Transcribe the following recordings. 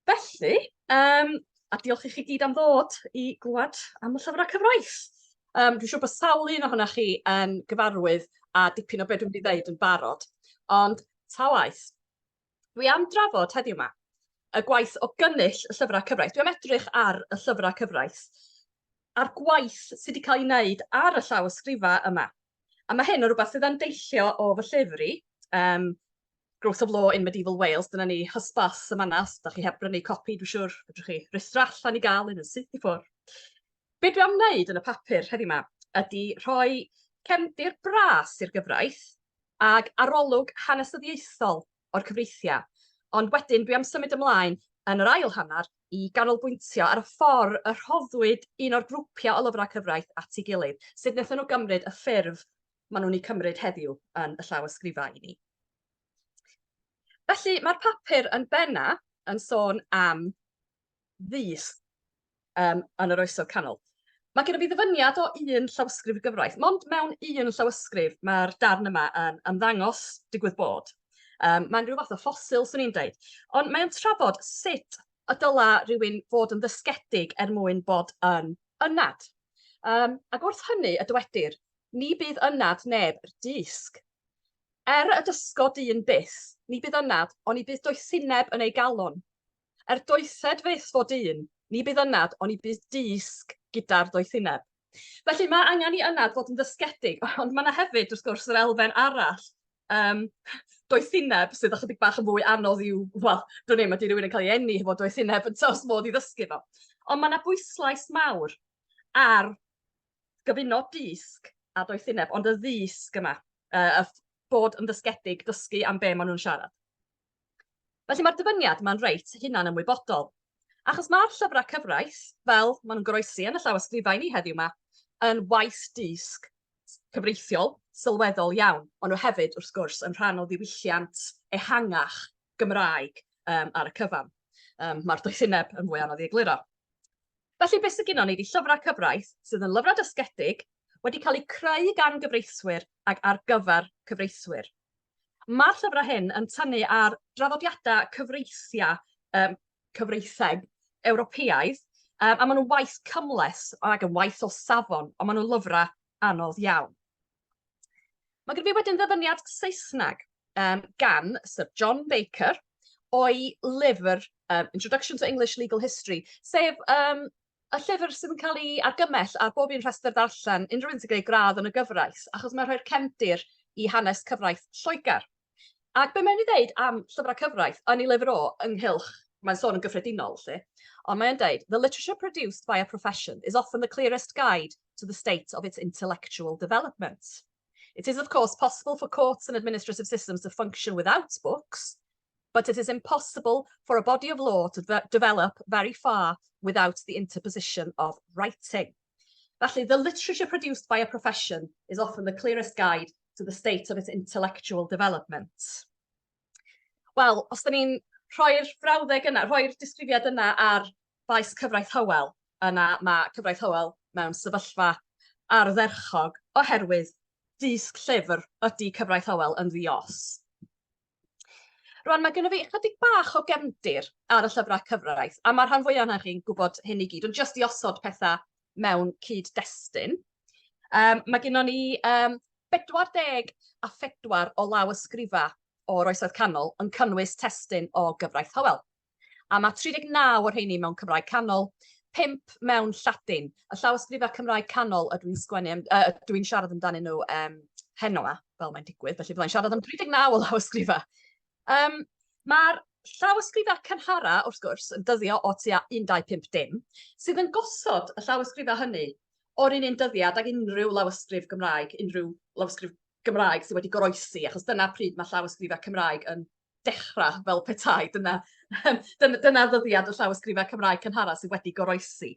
Felly, um, a diolch i chi gyd am ddod i glwad am y llyfrau cyfraith. Um, dwi'n siŵr bod sawl un ohonoch chi yn gyfarwydd a dipyn o beth dwi'n mynd i ddeud yn barod. Ond ta waith, dwi am drafod heddiw yma y gwaith o gynnyll y llyfrau cyfraith. Dwi am edrych ar y llyfrau cyfraith a'r gwaith sydd wedi cael ei wneud ar y llaw ysgrifau yma. A mae hyn o rhywbeth sydd yn deillio o fy llyfr i, um, Growth of Law in Medieval Wales, dyna ni, hysbys y manna, os da chi heb brynu copi, dwi'n siŵr, fedrwch chi rithro allan i gael un yn syth i ffwrdd. Be dwi am wneud yn y papur heddiw yma ydy rhoi cefndir bras i'r gyfraith ag arolwg hanesyddiaethol o'r cyfreithiau, ond wedyn dwi am symud ymlaen yn yr ail hanner i ganolbwyntio ar y ffordd y rhoddwyd un o'r grwpiau o lyfrau cyfraith at ei gilydd, sut wnaethon nhw gymryd y ffurf maen nhw'n eu cymryd heddiw yn y llawysgrifau i ni. Felly, mae'r papur yn benna yn sôn am ddys um, yn yr oesoedd canol. Mae gen i fi ddyfyniad o un llawysgrif y gyfraith. Mond mewn un llawysgrif mae'r darn yma yn ymddangos digwydd bod. Um, mae'n rhyw fath o ffosil, swn i'n dweud. Ond mae'n trafod sut y dyla rhywun fod yn ddysgedig er mwyn bod yn ynad. Um, ac wrth hynny y dywedir, ni bydd ynad neb 'r dysg. Er y dysgo dyn byth, ni bydd ynad, on i bydd doethineb yn ei galon. Er doethed fyth fo dyn, ni bydd ynad, on i bydd dysg gyda'r doethineb. Felly, mae angen i ynad fod yn ddysgedig, ond mae yna hefyd, wrth gwrs, yr elfen arall, um, doethineb sydd ychydig bach yn fwy anodd i'w, wel, dwi'n ei, mae di rhywun yn cael ei enni hefo doethineb yn tos modd i ddysgu fo. Ond mae yna bwyslais mawr ar gyfuno dysg a doethineb, ond y ddysg yma, uh, a bod yn ddysgedig, dysgu am be maen nhw'n siarad. Felly mae'r dyfyniad mae'n reit hunan ymwybodol. Achos mae'r llyfrau cyfraith, fel maen nhw'n goroesi yn y llawysgrifau ni heddiw yma, yn waith dysg cyfreithiol, sylweddol iawn. Maen nhw hefyd, wrth gwrs, yn rhan o ddiwylliant ehangach Gymraeg um, ar y cyfan. Um, Mae'r doethineb yn fwy anodd i egluro. Felly be sy gynnon ni ydi llyfrau cyfraith sydd yn lyfrau dysgedig, wedi cael eu creu gan gyfreithwyr ac ar gyfer cyfreithwyr. Mae'r llyfrau hyn yn tynnu ar draddodiadau cyfreithiau um, cyfreitheg Ewropeaidd, um, a maen nhw'n waith cymles ac yn waith o safon, ond maen nhw'n lyfrau anodd iawn. Mae gen fi wedyn ddyfyniad Saesneg um, gan Sir John Baker o'i lyfr um, Introduction to English Legal History, sef um, y llyfr sydd yn cael ei argymell ar bob un rhestr ddarllen unrhyw un sy'n gwneud gradd yn y gyfraith, achos mae'n rhoi'r cefndir i hanes cyfraith Lloegr. Ac be mae'n ei ddeud am llyfrau cyfraith yn ei lyfr o ynghylch, mae'n sôn yn gyffredinol lle, ond mae'n deud, The literature produced by a profession is often the clearest guide to the state of its intellectual development. It is of course possible for courts and administrative systems to function without books, but it is impossible for a body of law to develop very far without the interposition of writing. Felly, the literature produced by a profession is often the clearest guide to the state of its intellectual development. Wel, os da ni'n rhoi'r frawddeg yna, rhoi'r disgrifiad yna ar faes cyfraith Hywel, yna mae cyfraith Hywel mewn sefyllfa ardderchog oherwydd dysg llyfr ydy cyfraith Hywel yn ddios. Rwan, mae gennym fi ychydig bach o gefndir ar y llyfrau cyfraith, a mae'r rhan fwyaf yna chi'n gwybod hyn i gyd, ond jyst i osod pethau mewn cyd-destun. Um, mae gennym ni um, 40 a 4 o law ysgrifa o'r Oesoedd Canol yn cynnwys testun o gyfraith Howell. a mae 39 o'r rheiny mewn Cymraeg Canol, pump mewn Lladin. Y llawysgrifau Cymraeg Canol ydw i'n sgwennu, uh, ydw i'n siarad amdanyn nhw um, heno yma, fel mae'n digwydd, felly byddai'n siarad am 39 o lawysgrifau. Um, Mae'r llawysgrifau cynhara, wrth gwrs, yn dyddio o tua 125 dim, sydd yn gosod y llawysgrifau hynny o'r un un dyddiad ag unrhyw lawysgrif Gymraeg, unrhyw lawysgrif Gymraeg sydd wedi goroesi, achos dyna pryd mae llawysgrifau Cymraeg yn dechrau fel petai dyna, dyna, dyna ddyddiad y llawysgrifau Cymraeg cynhara sydd wedi goroesi.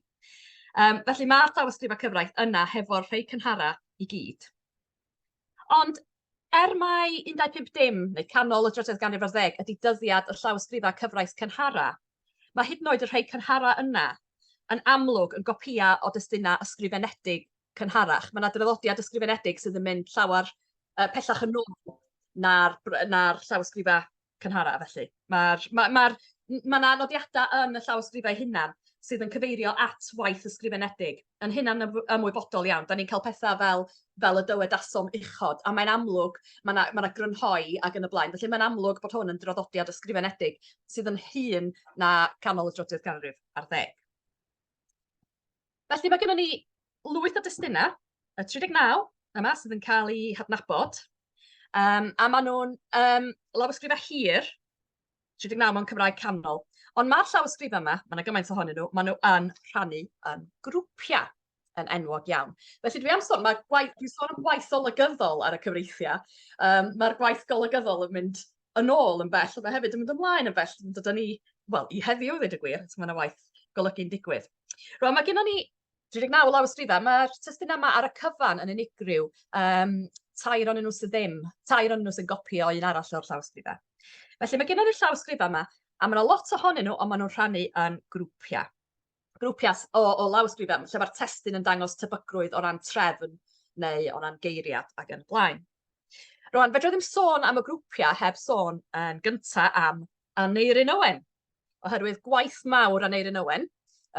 Um, felly mae'r llawysgrifau cyfraith yna hefo'r rhai cynhara i gyd. Ond er mai 15 dim neu canol y drydedd ganrif ar ddeg ydy dyddiad y llawysgrifau cyfraith cynhara, mae hyd yn oed y rhai cynhara yna yn amlwg yn gopïau o destunau ysgrifenedig cynharach. Mae yna draddodiad ysgrifenedig sydd yn mynd llawer uh, pellach yn ôl na'r, na llawysgrifau cynharaf, felly. Mae'r ma, ma, ma yna nodiadau yn y llawysgrifau hunan sydd yn cyfeirio at waith ysgrifenedig. Yn hunan ymwybodol iawn, da ni'n cael pethau fel, fel y dywedasom uchod, a mae'n amlwg, mae yna ma grynhoi ac yn y blaen. Felly mae'n amlwg bod hwn yn draddodiad ysgrifenedig sydd yn hun na canol y drydydd ganrif ar ddeg. Felly mae gennym ni lwyth o destunau, y 39 yma sydd yn cael eu hadnabod, um, a maen nhw'n um, lawysgrifau hir, 39 mewn Cymraeg canol. Ond mae'r llawysgrifau yma, mae yna gymaint ohonyn nhw, maen nhw yn rhannu yn grwpiau yn enwog iawn. Felly dwi am sôn, mae gwaith, dwi'n sôn am gwaith olygyddol ar y cyfreithiau. Um, Mae'r gwaith golygyddol yn mynd yn ôl yn bell, ond mae hefyd yn mynd ymlaen yn bell, yn dod â ni, wel, i heddiw, ddweud y gwir, mae yna waith golygu'n digwydd. Rwan, mae gennym ni 39 lawysgrifau, mae'r testyn yma ar y cyfan yn unigryw, um, tair o'n nhw sydd ddim, tair o'n nhw sy'n gopio un arall o'r llawysgrifau. Felly mae gennym ni'r llawysgrifau yma, a mae yna lot ohonyn nhw, ond maen nhw'n rhannu yn grwpiau. grwpiau o, o lawysgrifau lle mae'r testun yn dangos tebygrwydd o ran trefn neu o ran geiriad ac yn y blaen. Rwan, fedra ddim sôn am y grwpiau heb sôn yn gyntaf am Aneirin Owen, oherwydd gwaith mawr Aneirin Owen,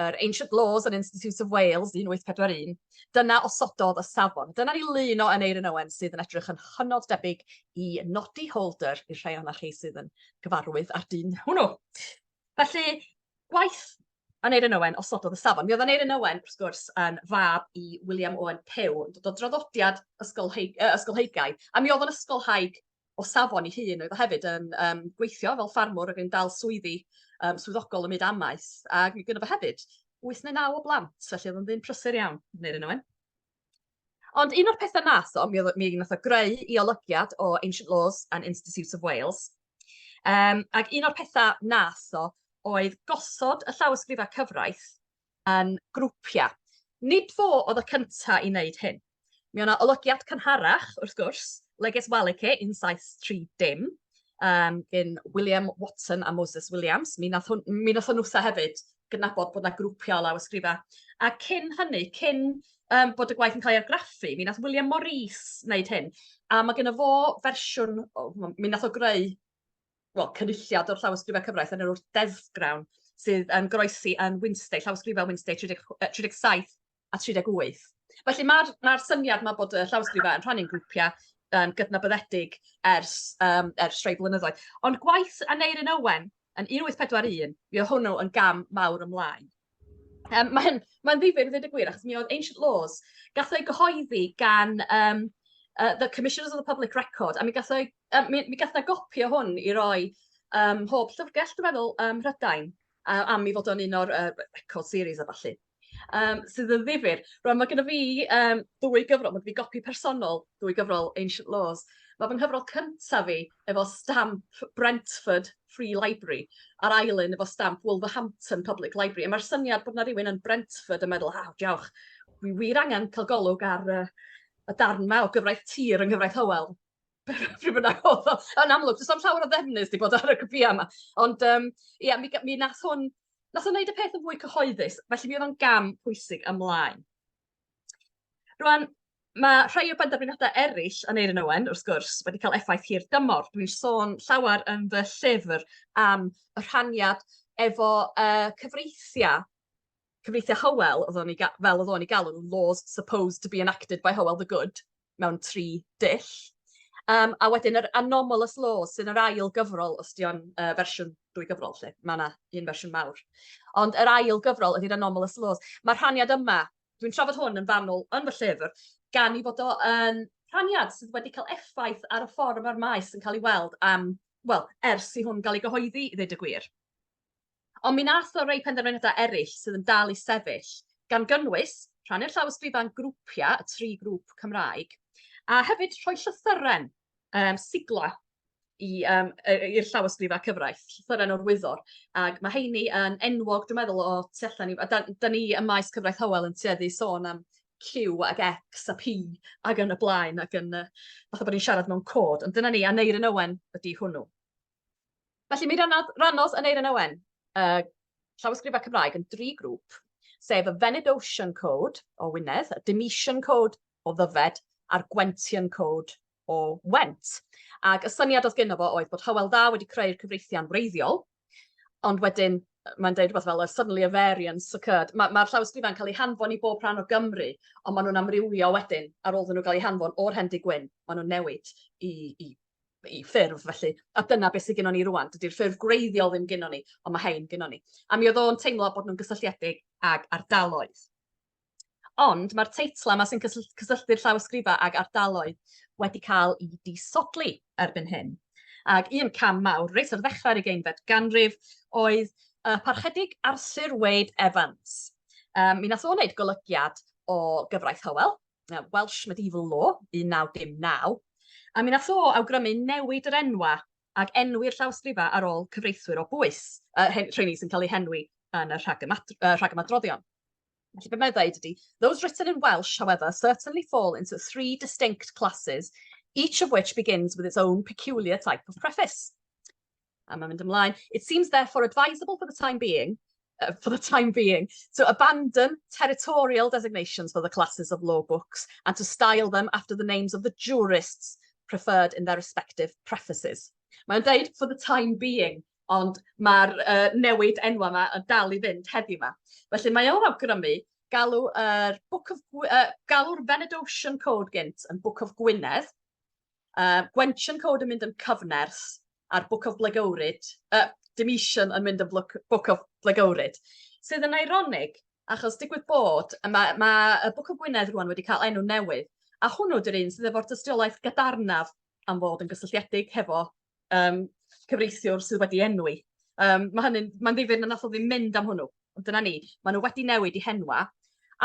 yr Ancient Laws and Institutes of Wales 1841, dyna osododd y safon. Dyna ni lun o Aneirin Owen sydd yn edrych yn hynod debyg i Noddy Holder i'r rhai o'na chi sydd yn gyfarwydd â'r dyn hwnnw. Felly, Gwaith Aneurin Owen osododd y safon. Mi oedd Aneurin Owen, wrth gwrs, yn fab i William Owen Pugh, yn dod o draddodiad ysgolheig, uh, ysgolheigaidd, a mi oedd o'n ysgolhaig o safon ei hun, oedd o hefyd yn um, gweithio fel ffarmwr ac yn dal swyddi um, swyddogol ym myd amaeth, ac mi gyda fo hefyd 8 neu 9 o blant, felly oedd o'n ddyn prysur iawn, Aneurin Owen. Ond un o'r pethau nath o, mi, mi nath o greu i olygiad o Ancient Laws and Institutes of Wales. Um, ac un o'r pethau nath o oedd gosod y llawysgrifau cyfraith yn grwpiau. Nid fo oedd y cyntaf i wneud hyn. Mi o'na olygiad cynharach, wrth gwrs, Leges Walike yn 730, um, gyn William Watson a Moses Williams. Mi nath, hwn, mi nath hwn wrtha hefyd gydnabod bod 'na grwpiau o lawysgrifau. A cyn hynny, cyn um, bod y gwaith yn cael ei argraffu, mi nath William Morris wneud hyn, a mae gennym fo fersiwn, mi nath o greu well, cynulliad o'r llawysgrifau cyfraith yn yr wrth deddfgrawn sydd yn groesi yn Winstay, llawysgrifau Winstay 30, 37 a 38. Felly mae'r ma syniad yma bod y llawysgrifau yn rhannu'n grwpiau um, gydnabyddedig ers, um, ers rhai blynyddoedd. Ond gwaith Aneirin Owen yn 1841, mi o hwnnw yn gam mawr ymlaen. Um, Mae'n ma ddifur ddweud y gwir, achos mi oedd Ancient Laws, gath o'i gyhoeddi gan um, uh, The Commissioners of the Public Record, a mi gath o'i, um, mi, mi gath na gopi o hwn i roi um, hob llyfrgell, dwi'n meddwl, um, Rhydain, uh, am i fod o'n un o'r uh, record series a falle. um, sydd yn ddifur. Rwan, mae gennym fi um, ddwy gyfrol, mae gennym fi gopi personol, ddwy gyfrol Ancient Laws. Mae fy nghyfrol cyntaf fi efo stamp Brentford Free Library, a'r ail un efo stamp Wolverhampton Public Library. A mae'r syniad bod yna rhywun yn Brentford yn meddwl, ha, diolch, wi wir angen cael golwg ar uh, y darn ma o gyfraith tir yng Nghyfraith Hywel. pryd bynnag oedd o. Yn amlwg, does am llawer o ddefnydd wedi bod ar y cwpiau yma. Ond um, ia, mi, mi nath hwn, nath hwn wneud y peth yn fwy cyhoeddus, felly mi oedd o'n gam pwysig ymlaen. Rwan, mae rhai o benderfyniadau eraill yn Eirin Owen, wrth gwrs, wedi cael effaith hir dymor. Dwi'n sôn llawer yn fy llyfr am y rhaniad efo uh, cyfreithiau cyfreithiau Hywel, oedd o'n ei ga- fel oedd o'n ei galw nhw, laws supposed to be enacted by Hywel the Good, mewn tri dull. Um, a wedyn yr anomalous laws sy'n yr ail gyfrol, os di o'n uh, fersiwn dwy gyfrol lle, mae yna un fersiwn mawr. Ond yr ail gyfrol ydy'r anomalous laws. Mae'r rhaniad yma, dwi'n trafod hwn yn fanwl yn fy llyfr, gan i fod o yn rhaniad sydd wedi cael effaith ar y ffordd mae'r maes yn cael ei weld am, wel, ers i hwn gael ei gyhoeddi, i ddweud y gwir. Ond mi nath o rei penderfyniadau eraill sydd yn dal i sefyll, gan gynnwys rhannu'r llawysgrifau'n grwpiau, y tri grŵp Cymraeg, a hefyd rhoi llythyren, um, sigla i, um, i'r llawysgrifau cyfraith, llythyren o'r wyddor. Ac mae heini yn enwog, dwi'n meddwl, o tu allan ni. A da, da ni ym maes cyfraith Hywel yn tueddu sôn am Q ac X a P ac yn y blaen ac yn, uh, fatha bod ni'n siarad mewn cod. Ond dyna ni, a Neirin Owen ydy hwnnw. Felly, mi rannodd Ranos Aneurin Owen y llawysgrifau Cymraeg yn dri grŵp, sef y Venedosian Code o Wynedd, y Demetian Code o Ddyfed a'r Gwentian Code o Went. Ac y syniad oedd gyno fo oedd bod Hywel Dda wedi creu'r cyfreithiau'n wreiddiol, ond wedyn mae'n dweud rhywbeth fel a suddenly a variance occurred. Mae'r ma llawysgrifau'n cael eu hanfon i bob rhan o Gymru, ond maen nhw'n amrywio wedyn ar ôl iddyn nhw gael eu hanfon o'r Hendy Gwyn, maen nhw'n newid i, i i ffurf felly, a dyna beth sydd gennon ni rwan. Dydy'r ffurf gwreiddiol ddim gennon ni, ond mae hein gennon ni. A mi oedd o'n teimlo bod nhw'n gysylltiedig ag ardaloedd. Ond mae'r teitlau yma sy'n cysylltu'r llawysgrifau ag ardaloedd wedi cael i disodli erbyn hyn. Ac un cam mawr reit ar ddechrau'r ugeinfed ganrif oedd uh, parchedig Arthur Wade Evans. Um, mi nath o wneud golygiad o gyfraith Hywel, Welsh Medieval Law 1919, a mi nath o awgrymu newid yr enwa' ag enwi'r llawysgrifa ar ôl cyfreithwyr o bwys, yy hen- rheini sy'n cael eu henwi yn y rhagymat- yy rhagymadroddion. Felly be' mae o'n ddeud ydi those written in Welsh however certainly fall into three distinct classes each of which begins with its own peculiar type of preface. a mae'n mynd ymlaen, it seems therefore advisable for the time being uh, for the time being, to abandon territorial designations for the classes of law books and to style them after the names of the jurists preferred in their respective prefaces. Mae'n dweud for the time being, ond mae'r uh, newid enwa yma yn dal i fynd heddiw yma. Felly mae o'n awgrymu galw yr uh, Book of uh, galw'r Venedosian Code gynt yn Book of Gwynedd, uh, Gwensian Code yn mynd yn cyfnerth, a'r Book of Blagowrid, yy dim ision yn mynd yn blwc- Book of Blagowrid, sydd yn eironig achos digwydd bod y ma' ma' y Book of Gwynedd rŵan wedi cael enw newydd a hwnnw 'di'r un sydd efo'r dystiolaeth gadarnaf am fod yn gysylltiedig hefo yym cyfreithiwr sydd wedi enwi. Yym ma' hynny'n ma'n ddifyr na nath o ddim mynd am hwnnw, ond dyna ni, ma' nw wedi newid 'u henwa'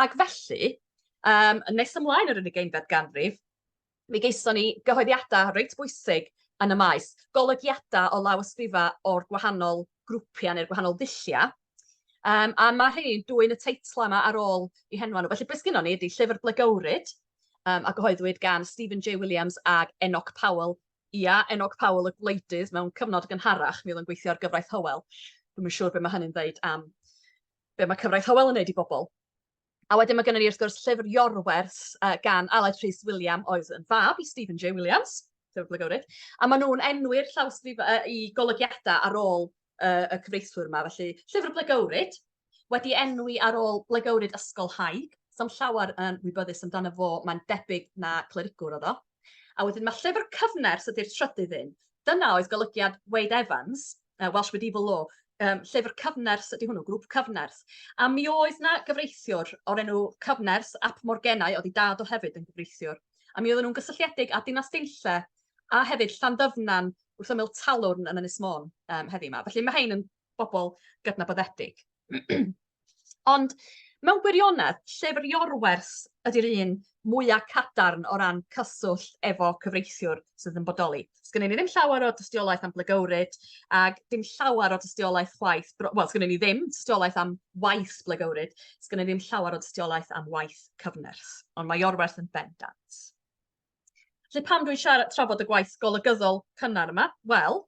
ac felly yym yn nes ymlaen yr ugeinfed ganrif Mi gaethon ni gyhoeddiadau reit bwysig yn y maes, golygiadau o lawysgrifau o'r gwahanol grwpiau neu'r gwahanol ddulliau, um, a mae rhei'n dwy'n y teitlau yma ar ôl i henwa nhw. Felly beth sgynnon ni ydy llyfr blegywryd um, a gyhoeddwyd gan Stephen J Williams ag Enoch Powell. Ia, Enoch Powell y gwleidydd mewn cyfnod gynharach, mi oedd yn gweithio ar gyfraith Howell. Dwi'n siŵr beth mae hynny'n ddeud am be mae cyfraith Howell yn neud i bobl. A wedyn mae gynnon ni wrth gwrs llyfr Iorwerth uh, gan Aled Rhys William oedd yn fab i Stephen J Williams, sefydlogwrydd, a maen nhw'n enwi'r llawysgrif uh, i golygiadau ar ôl uh, y cyfreithwyr yma. Felly, llyfr blegywryd, wedi enwi ar ôl blegywryd ysgol haig, sam llawer yn wybyddus amdano fo, mae'n debyg na clerigwr oedd o. A wedyn mae llyfr cyfnerth ydy'r trydydd un. Dyna oedd golygiad Wade Evans, uh, Welsh Medieval Law, um, llyfr cyfnerth ydy hwnnw, grŵp cyfnerth. A mi oedd na gyfreithiwr o'r enw cyfnerth ap Morgenau, oedd i dad o hefyd yn gyfreithiwr. A mi oedden nhw'n gysylltiedig â Dinas Deinlle a hefyd Llanddyfnan wrth ymyl talwrn yn Ynys Môn um, heddi yma. Felly mae hein yn bobl gydnabyddedig. Ond mewn gwirionedd, llyfr Iorwerth ydy'r un mwya' cadarn o ran cyswllt efo cyfreithiwr sydd yn bodoli. Sgynnon ni ddim llawer o dystiolaeth am blygywryd ac dim llawer o dystiolaeth chwaith, bro- wel sgynnon ni ddim tystiolaeth am waith blygywryd, sgynnon ni ddim llawer o dystiolaeth am waith cyfnerth, ond mae Iorwerth yn bendant. Felly pam dwi'n siarad trafod y gwaith golygyddol cynnar yma? Wel,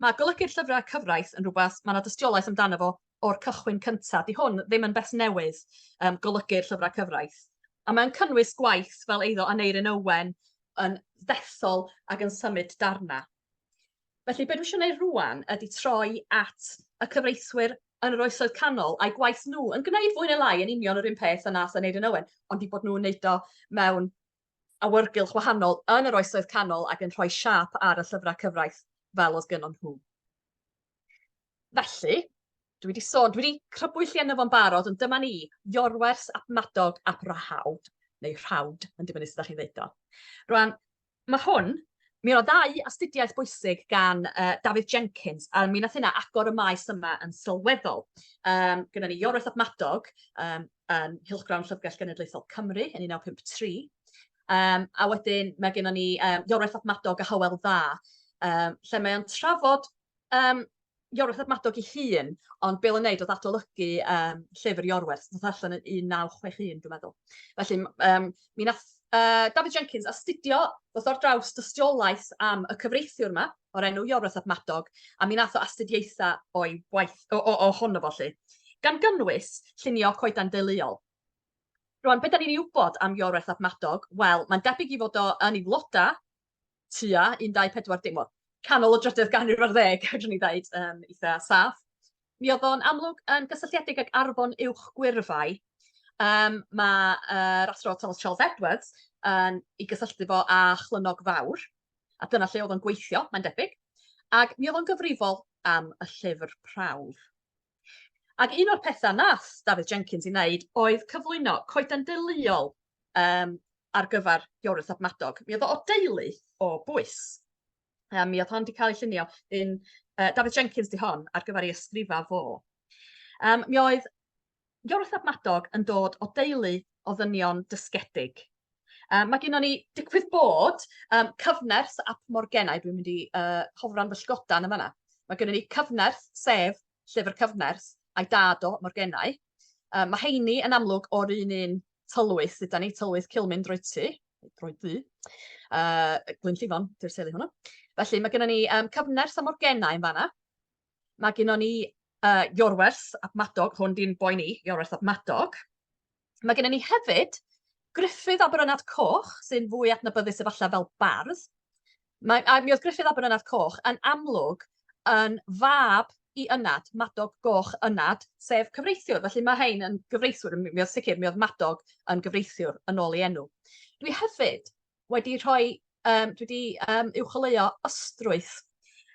mae golygu'r llyfrau cyfraith yn rhywbeth, mae yna dystiolaeth amdano fo o'r cychwyn cyntaf. Di hwn ddim yn beth newydd, um, golygu'r llyfrau cyfraith. A mae'n cynnwys gwaith fel eiddo Aneirin Owen yn ddethol ac yn symud darna. Felly, beth dwi eisiau gwneud rwan ydy troi at y cyfreithwyr yn yr oesoedd canol a'i gwaith nhw yn gwneud fwy neu lai yn union yr un peth yna nath yn Eirin Owen, ond i bod nhw'n neud o mewn awyrgylch wahanol yn yr Oesoedd Canol ac yn rhoi siâp ar y llyfrau cyfraith fel oedd gynon nhw. Felly, dwi wedi sôn, dwi wedi crybwyll i enw fo'n barod, ond dyma ni, Iorwers ap Madog ap Rahawd, neu Rhawd, yn dibynnu sut ydych chi'n ddeud o. Rwan, mae hwn Mi oedd ddau astudiaeth bwysig gan uh, David Jenkins, a mi nath hynna agor y maes yma yn sylweddol. Um, gyda ni Iorweth Abmadog, um, um, Hilchgrawn Llyfrgell Genedlaethol Cymru yn 1953. Um, a wedyn mae gennym ni um, Iorwerth Admadog a Hywel Dda, um, lle mae o'n trafod um, Iorwerth Admadog i hun, ond Bill yn neud oedd adolygu um, llyfr Iorwerth, ddoth allan yn 1961, dwi'n meddwl. Felly, um, mi nath uh, David Jenkins astudio, ddoth o'r draws dystiolaeth am y cyfreithiwr yma, o'r enw Iorwerth ap Madog, a mi nath o astudiaetha o'i waith o o ohono fo 'lly, gan gynnwys llunio coeden deuluol. Rŵan be' 'dan ni'n 'i wybod am Iorwerth ap Madog? Wel, mae'n debyg 'i fod o yn 'i floda tua 14 dim wel, canol y drydedd ganrif ar ddeg fedrwn ni ddeud, yn eitha saff. Mi o'dd o'n amlwg yn gysylltiedig ag Arfon Uwch Gwyrfai. Yym ma' yr Athro Thomas Charles Edwards yn 'i gysylltu fo â Chlynog Fawr. A dyna lle oedd o'n gweithio, mae'n debyg. Ac mi oedd o'n gyfrifol am y llyfr prawf. Ac un o'r pethau nath Dafydd Jenkins i wneud oedd cyflwyno coeden deuluol um, ar gyfer Iorwth ab Madog. Mi oedd o deulu o bwys. Um, mi oedd hon wedi cael ei llunio yn... Uh, Dafydd Jenkins di hon ar gyfer ei ysgrifa fo. Um, mi oedd Iorwerth ab Madog yn dod o deulu o ddynion dysgedig. Um, mae gennym ni digwydd bod um, cyfnerth ap Morgennau, dwi'n mynd i uh, hofran fy llgodan yn fanna. Mae gennym ni cyfnerth, sef llyfr cyfnerth, a'i dad o Morgennau. Um, mae heini yn amlwg o'r un un tylwyth, dyda ni, tylwyth Cilmyn Droedtu, Droeddu, uh, Glyn Llifon, dy'r teulu hwnnw. Felly mae gennym ni um, cyfnerth a Morgennau yn fanna. Mae gennon ni uh, Iorwerth ap Madog, hwn di'n boi ni, Iorwerth ap Madog. Mae gennym ni hefyd Griffith Aberynad Coch, sy'n fwy adnabyddus efallai fel bardd. Mae, a mi oedd Griffith Aberynad Coch yn amlwg yn fab i ynad, Madog Goch ynad, sef cyfreithiwr. Felly mae hein yn gyfreithiwr, mi oedd sicr, mi oedd Madog yn gyfreithiwr yn ôl ei enw. Dwi hefyd wedi rhoi, um, dwi wedi um, uwcholeuo ystrwyth.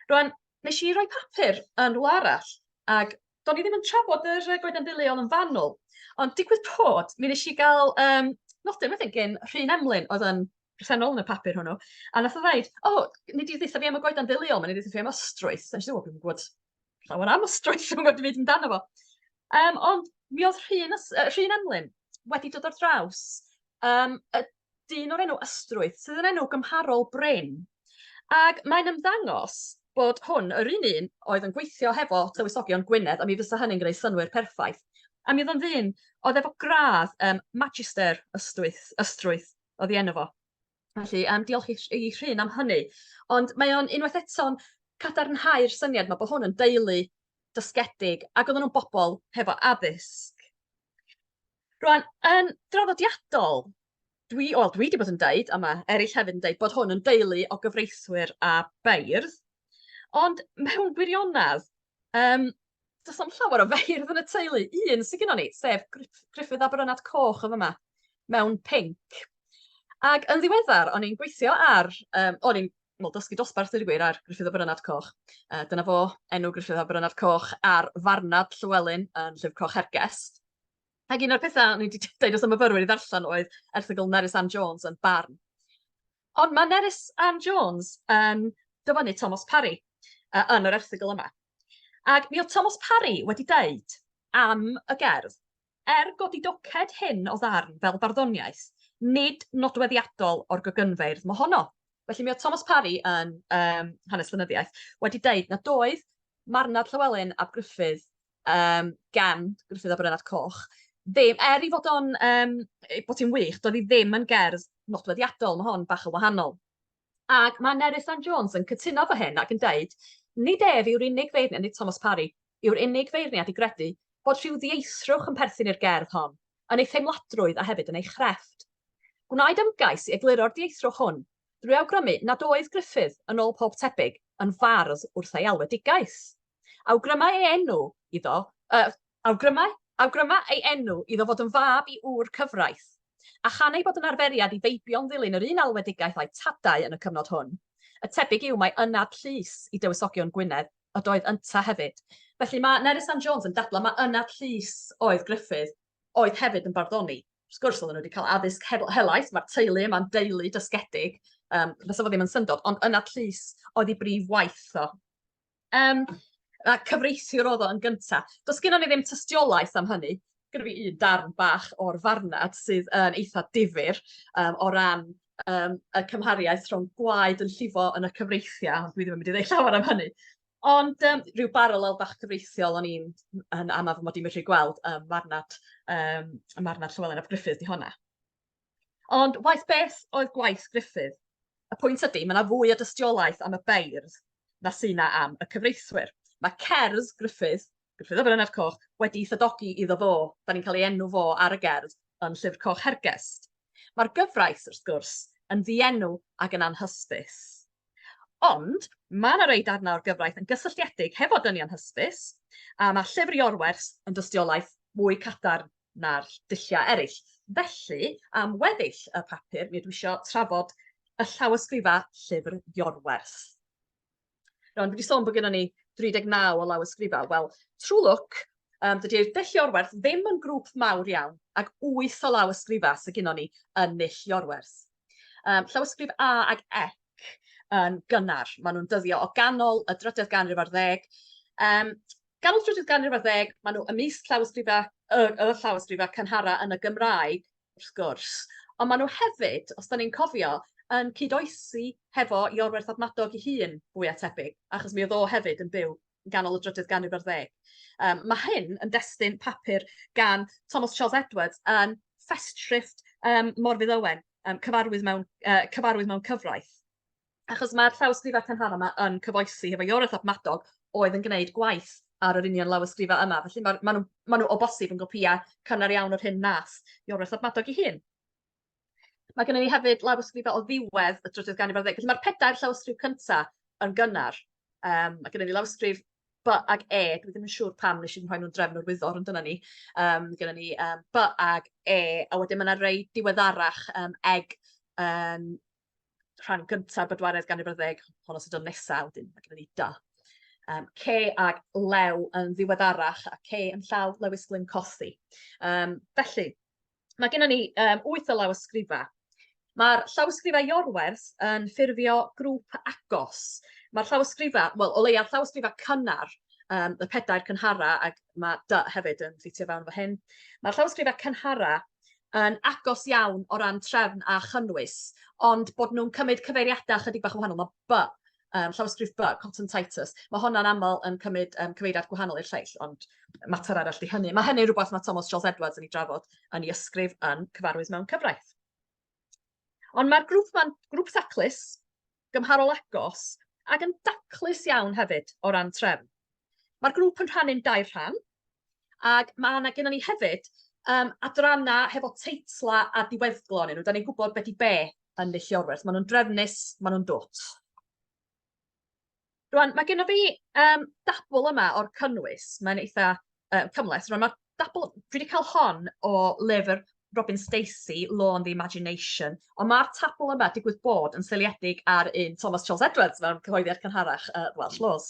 Rwan, Nes i roi papur yn rwla arall ac do'n i ddim yn trafod yr yy goeden ddeuliol yn fanwl ond digwydd bod mi nes i ga'l yym nodyn wedyn gin Rhun Emlyn oedd yn presennol yn y papur hwnnw a nath o ddeud o nei di dditha fi am y goeden ddeuliol 'ma nei di dditha fi am ostrwyth a nesh i ddeud wel dwi'm yn gwbod llawer am ostrwyth dwi'm yn gwbod dim byd amdano fo. Yym ond mi o'dd Rhun yy Rhun Emlyn wedi dod ar draws yym y dyn o'r enw Ystrwyth, sydd yn enw gymharol brin. Ac mae'n ymddangos bod hwn yr un un oedd yn gweithio hefo Tywysogion Gwynedd, a mi fysa hynny'n gwneud synwyr perffaith. A mi oedd o'n ddyn oedd efo gradd um, Magister Ystwyth, Ystrwyth oedd ei enw fo. Felly, um, diolch i, i Rhun am hynny. Ond mae o'n unwaith eto'n cadarnhau'r syniad mae bod hwn yn deulu dysgedig ac oedden nhw'n bobl hefo addysg. Rŵan, yn draddodiadol, dwi, wel, dwi wedi bod yn deud, a mae eraill hefyd yn deud, bod hwn yn deulu o gyfreithwyr a beirdd, ond mewn gwirionedd, um, does am llawer o feirdd yn y teulu, un sy'n gyda ni, sef Griffith a Brynad Coch yn yma, mewn pink. Ac yn ddiweddar, o'n i'n gweithio ar, um, o'n i'n wel, dysgu dosbarth i'r gwir ar Griffith a Brynad Coch. Uh, dyna fo enw Griffith a Brynad Coch ar farnad Llywelyn yn Llyfr Coch Hergest. Ac un o'r pethau o'n i wedi deud wrth y myfyrwyr i ddarllen oedd erthygl Nerys Ann Jones yn Barn. Ond mae Nerys Ann Jones yn dyfynnu Thomas Parry uh, yn yr erthygl yma. Ac mi oedd Thomas Parry wedi deud am y gerdd, er godi doced hyn o ddarn fel barddoniaeth, nid nodweddiadol o'r gogynfeirdd mohono. Felly mi oedd Thomas Parry yn um, hanes llenyddiaeth wedi deud na doedd marnad Llywelyn ab Gruffydd um, gan Gruffydd a Brynad Coch, ddim, er i fod o'n, um, bod hi'n wych, doedd hi ddim yn gerdd nodweddiadol, mae hon bach yn wahanol. Ac mae Nerys Ann Jones yn cytuno fy hyn ac yn dweud, nid ef yw'r unig feirniad, nid Thomas Parry, yw'r unig feirniad i gredu bod rhyw ddieithrwch yn perthyn i'r gerdd hon, yn ei theimladrwydd a hefyd yn ei chrefft. Gwnaed ymgais i egluro'r dieithrwch hwn drwy awgrymu nad oedd Griffith, yn ôl pob tebyg, yn fardd wrth ei alwedigaeth. Awgrymai ei enw iddo, uh, awgrymai, awgrymai ei enw iddo fod yn fab i ŵr cyfraith, a chan ei bod yn arferiad i feibio'n ddilyn yr un alwedigaeth â'i tadau yn y cyfnod hwn. Y tebyg yw mae ynad llys i dywysogion Gwynedd ydoedd ynta hefyd. Felly mae Nerys Ann Jones yn dadlau mae ynad llys oedd Gruffydd oedd hefyd yn barddoni. Wrth gwrs, oedden nhw wedi cael addysg helaeth, mae'r teulu yma'n deulu dysgedig, um, fes efo ddim yn syndod, ond ynad llys oedd ei brif waith o. Yym, a cyfreithiwr oedd o yn gynta. Does gennon ni ddim tystiolaeth am hynny. Gyda fi un darn bach o'r farnad sydd yn eitha difyr um, o ran um, y cymhariaeth rhwng gwaed yn llifo yn y cyfreithiau, ond dwi ddim yn mynd i ddweud llawer am hynny. Ond um, rhyw baralel bach cyfreithiol o'n i'n yn amaf mod i'n medru gweld um, marnad, um, marnad Llywelyn ap Griffith di honna. Ond waeth beth oedd gwaith Gruffydd, y pwynt ydy, mae yna fwy o dystiolaeth am y beirdd na sy'n na am y cyfreithwyr. Mae cerdd Gruffydd, Gruffydd a Brynedd Coch, wedi thydogi iddo fo, da ni'n cael ei enw fo ar y gerdd yn Llyfr Coch Hergest. Mae'r gyfraith, wrth gwrs, yn ddienw ac yn anhysbys. Ond mae yna rei darnau o'r gyfraith yn gysylltiedig hefo dynion hysbys, a mae llyfr Iorwerth yn dystiolaeth mwy cadarn na'r dulliau eraill. Felly, am weddill y papur, mi ydw i eisiau trafod y llawysgrifau llyfr Iorwerth. Rwan, dwi wedi sôn bod gennym ni 39 o lawysgrifau. Wel, trwy lwc, um, dydy'r dull Iorwerth ddim yn grŵp mawr iawn, ac 8 o lawysgrifau sydd gennym ni yn null Iorwerth. Um, llawysgrif A ac E yn gynnar. Maen nhw'n dyddio o ganol y drydedd ganrif ar ddeg. Um, Gan y trydydd ganrif ar ddeg, maen nhw ymysg llawysgrifau, y, y llawysgrifau cynharaf yn y Gymraeg, wrth gwrs. Ond maen nhw hefyd, os da ni'n cofio, yn cyd-oesi hefo Iorwerth ab Madog ei hun, fwy a tebyg, achos mi oedd o hefyd yn byw yn ganol y drydydd ganrif ar ddeg. Um, mae hyn yn destun papur gan Thomas Charles Edwards yn Festschrift um, Morfydd Owen, um, cyfarwydd, mewn, uh, cyfarwydd mewn cyfraith. Achos mae'r llawysgrifau cynharaf yma yn cyfoesi hefo Iorwerth ap Madog oedd yn gwneud gwaith ar yr union lawysgrifau yma. Felly maen ma nhw, ma nhw o bosib yn gopïau cynnar iawn o'r hyn nas Iorwerth ap Madog ei hun. Mae gennym ni hefyd lawysgrifau o ddiwedd y trydydd ganrif ar ddeg. Felly mae'r pedair llawysgrif cyntaf yn gynnar. Um, mae gennym ni lawysgrif B ag E, dwi ddim yn siŵr pam nes i'n rhoi nhw'n drefn o'r wyddor, ond dyna ni. Um, gyda ni um, B ag E, a wedyn mae yna rei diweddarach um, eg um, rhan gyntaf bedwaredd ganrif ar ddeg, honno sy'n dod nesa, wedyn mae gennym ni da. Um, ce ag lew yn ddiweddarach a ce yn llaw Lewis Glyn Cothi. Um, felly, mae gennym ni um, wyth o lawysgrifa. Mae'r llawysgrifau Iorwerth yn ffurfio grŵp agos. Mae'r llawysgrifau, wel, o leia'r llawysgrifau cynnar, um, y pedair cynhara, ac mae dy hefyd yn ffitio fewn efo hyn. Mae'r llawysgrifau cynhara yn agos iawn o ran trefn a chynnwys, ond bod nhw'n cymryd cyfeiriadau ychydig bach yn wahanol. Mae by, um, llawysgrif by, Cotton Titus, mae honna'n aml yn cymryd um, cyfeiriad gwahanol i'r lleill, ond mater arall di hynny. Mae hynny'n rhywbeth mae Thomas Charles Edwards yn ei drafod yn ei ysgrif yn cyfarwydd mewn cyfraith. Ond mae'r grŵp ma'n grŵp taclus, gymharol agos ac yn daclus iawn hefyd o ran trefn. Mae'r grŵp yn rhannu'n dair rhan, ac mae yna gennym ni hefyd um, adrannau hefo teitlau a diweddglo yn nhw. Da ni'n gwybod beth i be yn Nilliorwerth. Maen nhw'n drefnus, maen nhw'n dwt. Rwan, mae gennyf fi yym dabl yma o'r cynnwys, mae'n eitha yy cymhleth. Rwan, mae'r dabl, dwi wedi cael hon o lyfr Robin Stacey, Law and the Imagination, ond mae'r tabl yma digwydd bod yn seiliedig ar un Thomas Charles Edwards mewn cyhoeddiad cynharach uh, Welsh Laws.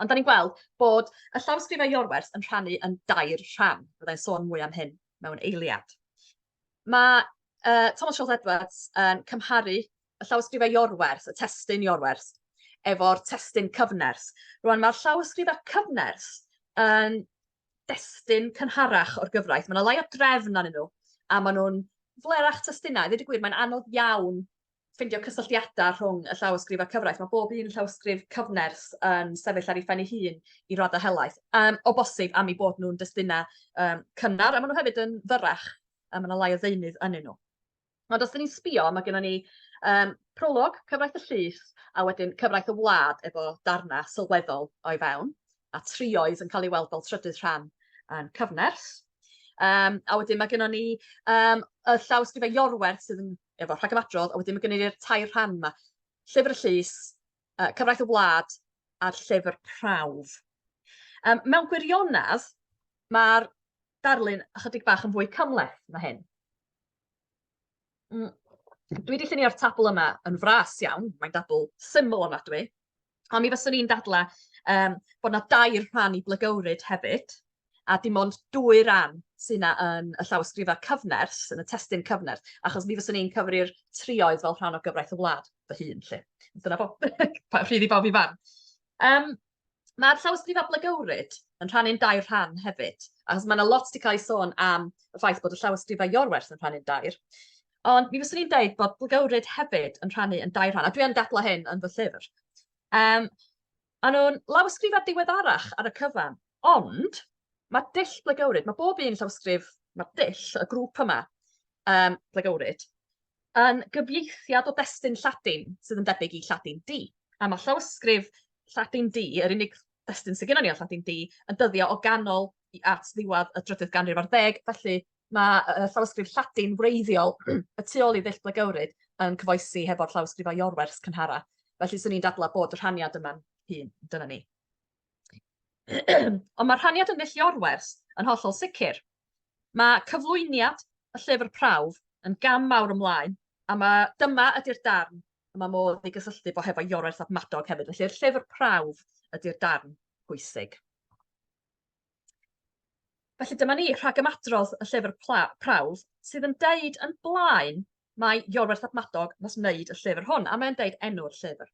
Ond da ni'n gweld bod y llawysgrifau Iorwerth yn rhannu yn dair rhan. Byddai'n sôn mwy am hyn mewn eiliad. Mae yy Thomas Schultz Edwards yn cymharu y llawysgrifau Iorwerth, y testun Iorwerth, efo'r testun cyfnerth. Rwan, mae'r llawysgrifau cyfnerth yn destun cynharach o'r gyfraith. Mae yna lai o drefn arnyn nhw, a maen nhw'n flerach testunau. Dweud y gwir, mae'n anodd iawn ffeindio cysylltiadau rhwng y llawysgrif a'r cyfraith. Mae bob un llawysgrif cyfnerth yn sefyll ar ei phen ei hun i raddau helaeth, um, o bosib am ei bod nhw'n destunau um, cynnar, a maen nhw hefyd yn fyrrach, a mae yna lai o ddeunydd yn nhw. Ond os dyn ni'n sbio, mae gennym ni um, prolog, cyfraith y llys, a wedyn cyfraith y wlad efo darnau sylweddol o'i fewn, a trioedd yn cael ei weld fel trydydd rhan yn cyfnerth. Um, a wedyn mae gennym ni um, y llawysgrifau Iorwerth sydd yn efo rhagyfadrodd, a wedyn mae gennym ni'r tair rhan yma. Llyfr y Llys, uh, Cyfraith y Wlad a'r Llyfr Prawf. Um, mewn gwirionedd, mae'r darlun ychydig bach yn fwy cymleth na hyn. Mm. Dwi wedi llunio'r tabl yma yn fras iawn, mae'n dabl syml ofnadwy, A mi fyswn i'n dadla yym bod 'na dair rhan i blygywryd hefyd, a dim ond dwy ran sy 'na yn y llawysgrifa cyfnerth, yn y testun cyfnerth, achos mi fyswn i'n cyfri'r trioedd fel rhan o gyfraith y wlad fy hun 'lly. Dyna fo. Pa- Rhydd i bawb i farn. Yym ma'r llawysgrifa blygywryd yn rhannu'n dair rhan hefyd, achos ma' 'na lot 'di ca'l ei sôn am y ffaith bod y llawysgrifa Iorwerth yn rhannu'n dair. Ond mi fyswn i'n dweud bod bwgywryd hefyd yn rhannu yn dair rhan, a dwi yn dadlau hyn yn fy llyfr. Um, a nhw'n lawysgrifau diweddarach ar y cyfan, ond mae dull blegywryd, mae bob un llawysgrif, mae dull y grŵp yma, um, blegywryd, yn gyfieithiad o destun Lladin sydd yn debyg i Lladin D. A mae llawysgrif Lladin D, yr unig destun sydd gennym ni o Lladin D, yn dyddio o ganol at ddiwedd y drydydd ganrif ar ddeg, felly Mae yy llawysgrif Lladin wreiddiol y tu ôl i ddull Blagewryd yn cyfoesi hefo'r llawysgrifau Iorwerth cynhara, felly swn i'n dadlau bod y rhaniad yma'n hŷn. Dyna ni. Ond mae'r rhaniad yn ddull Iorwerth yn hollol sicr. Mae cyflwyniad y llyfr prawf yn gam mawr ymlaen, a mae dyma ydy'r darn y mae modd ei gysylltu bo hefo Iorwerth ap Madog hefyd. Felly'r llyfr prawf ydy'r darn pwysig. Felly dyma ni, rhagymadrodd y llyfr prawf sydd yn deud yn blaen mae Iorwerth ap Madog nes wneud y llyfr hwn, a mae'n deud enw'r llyfr.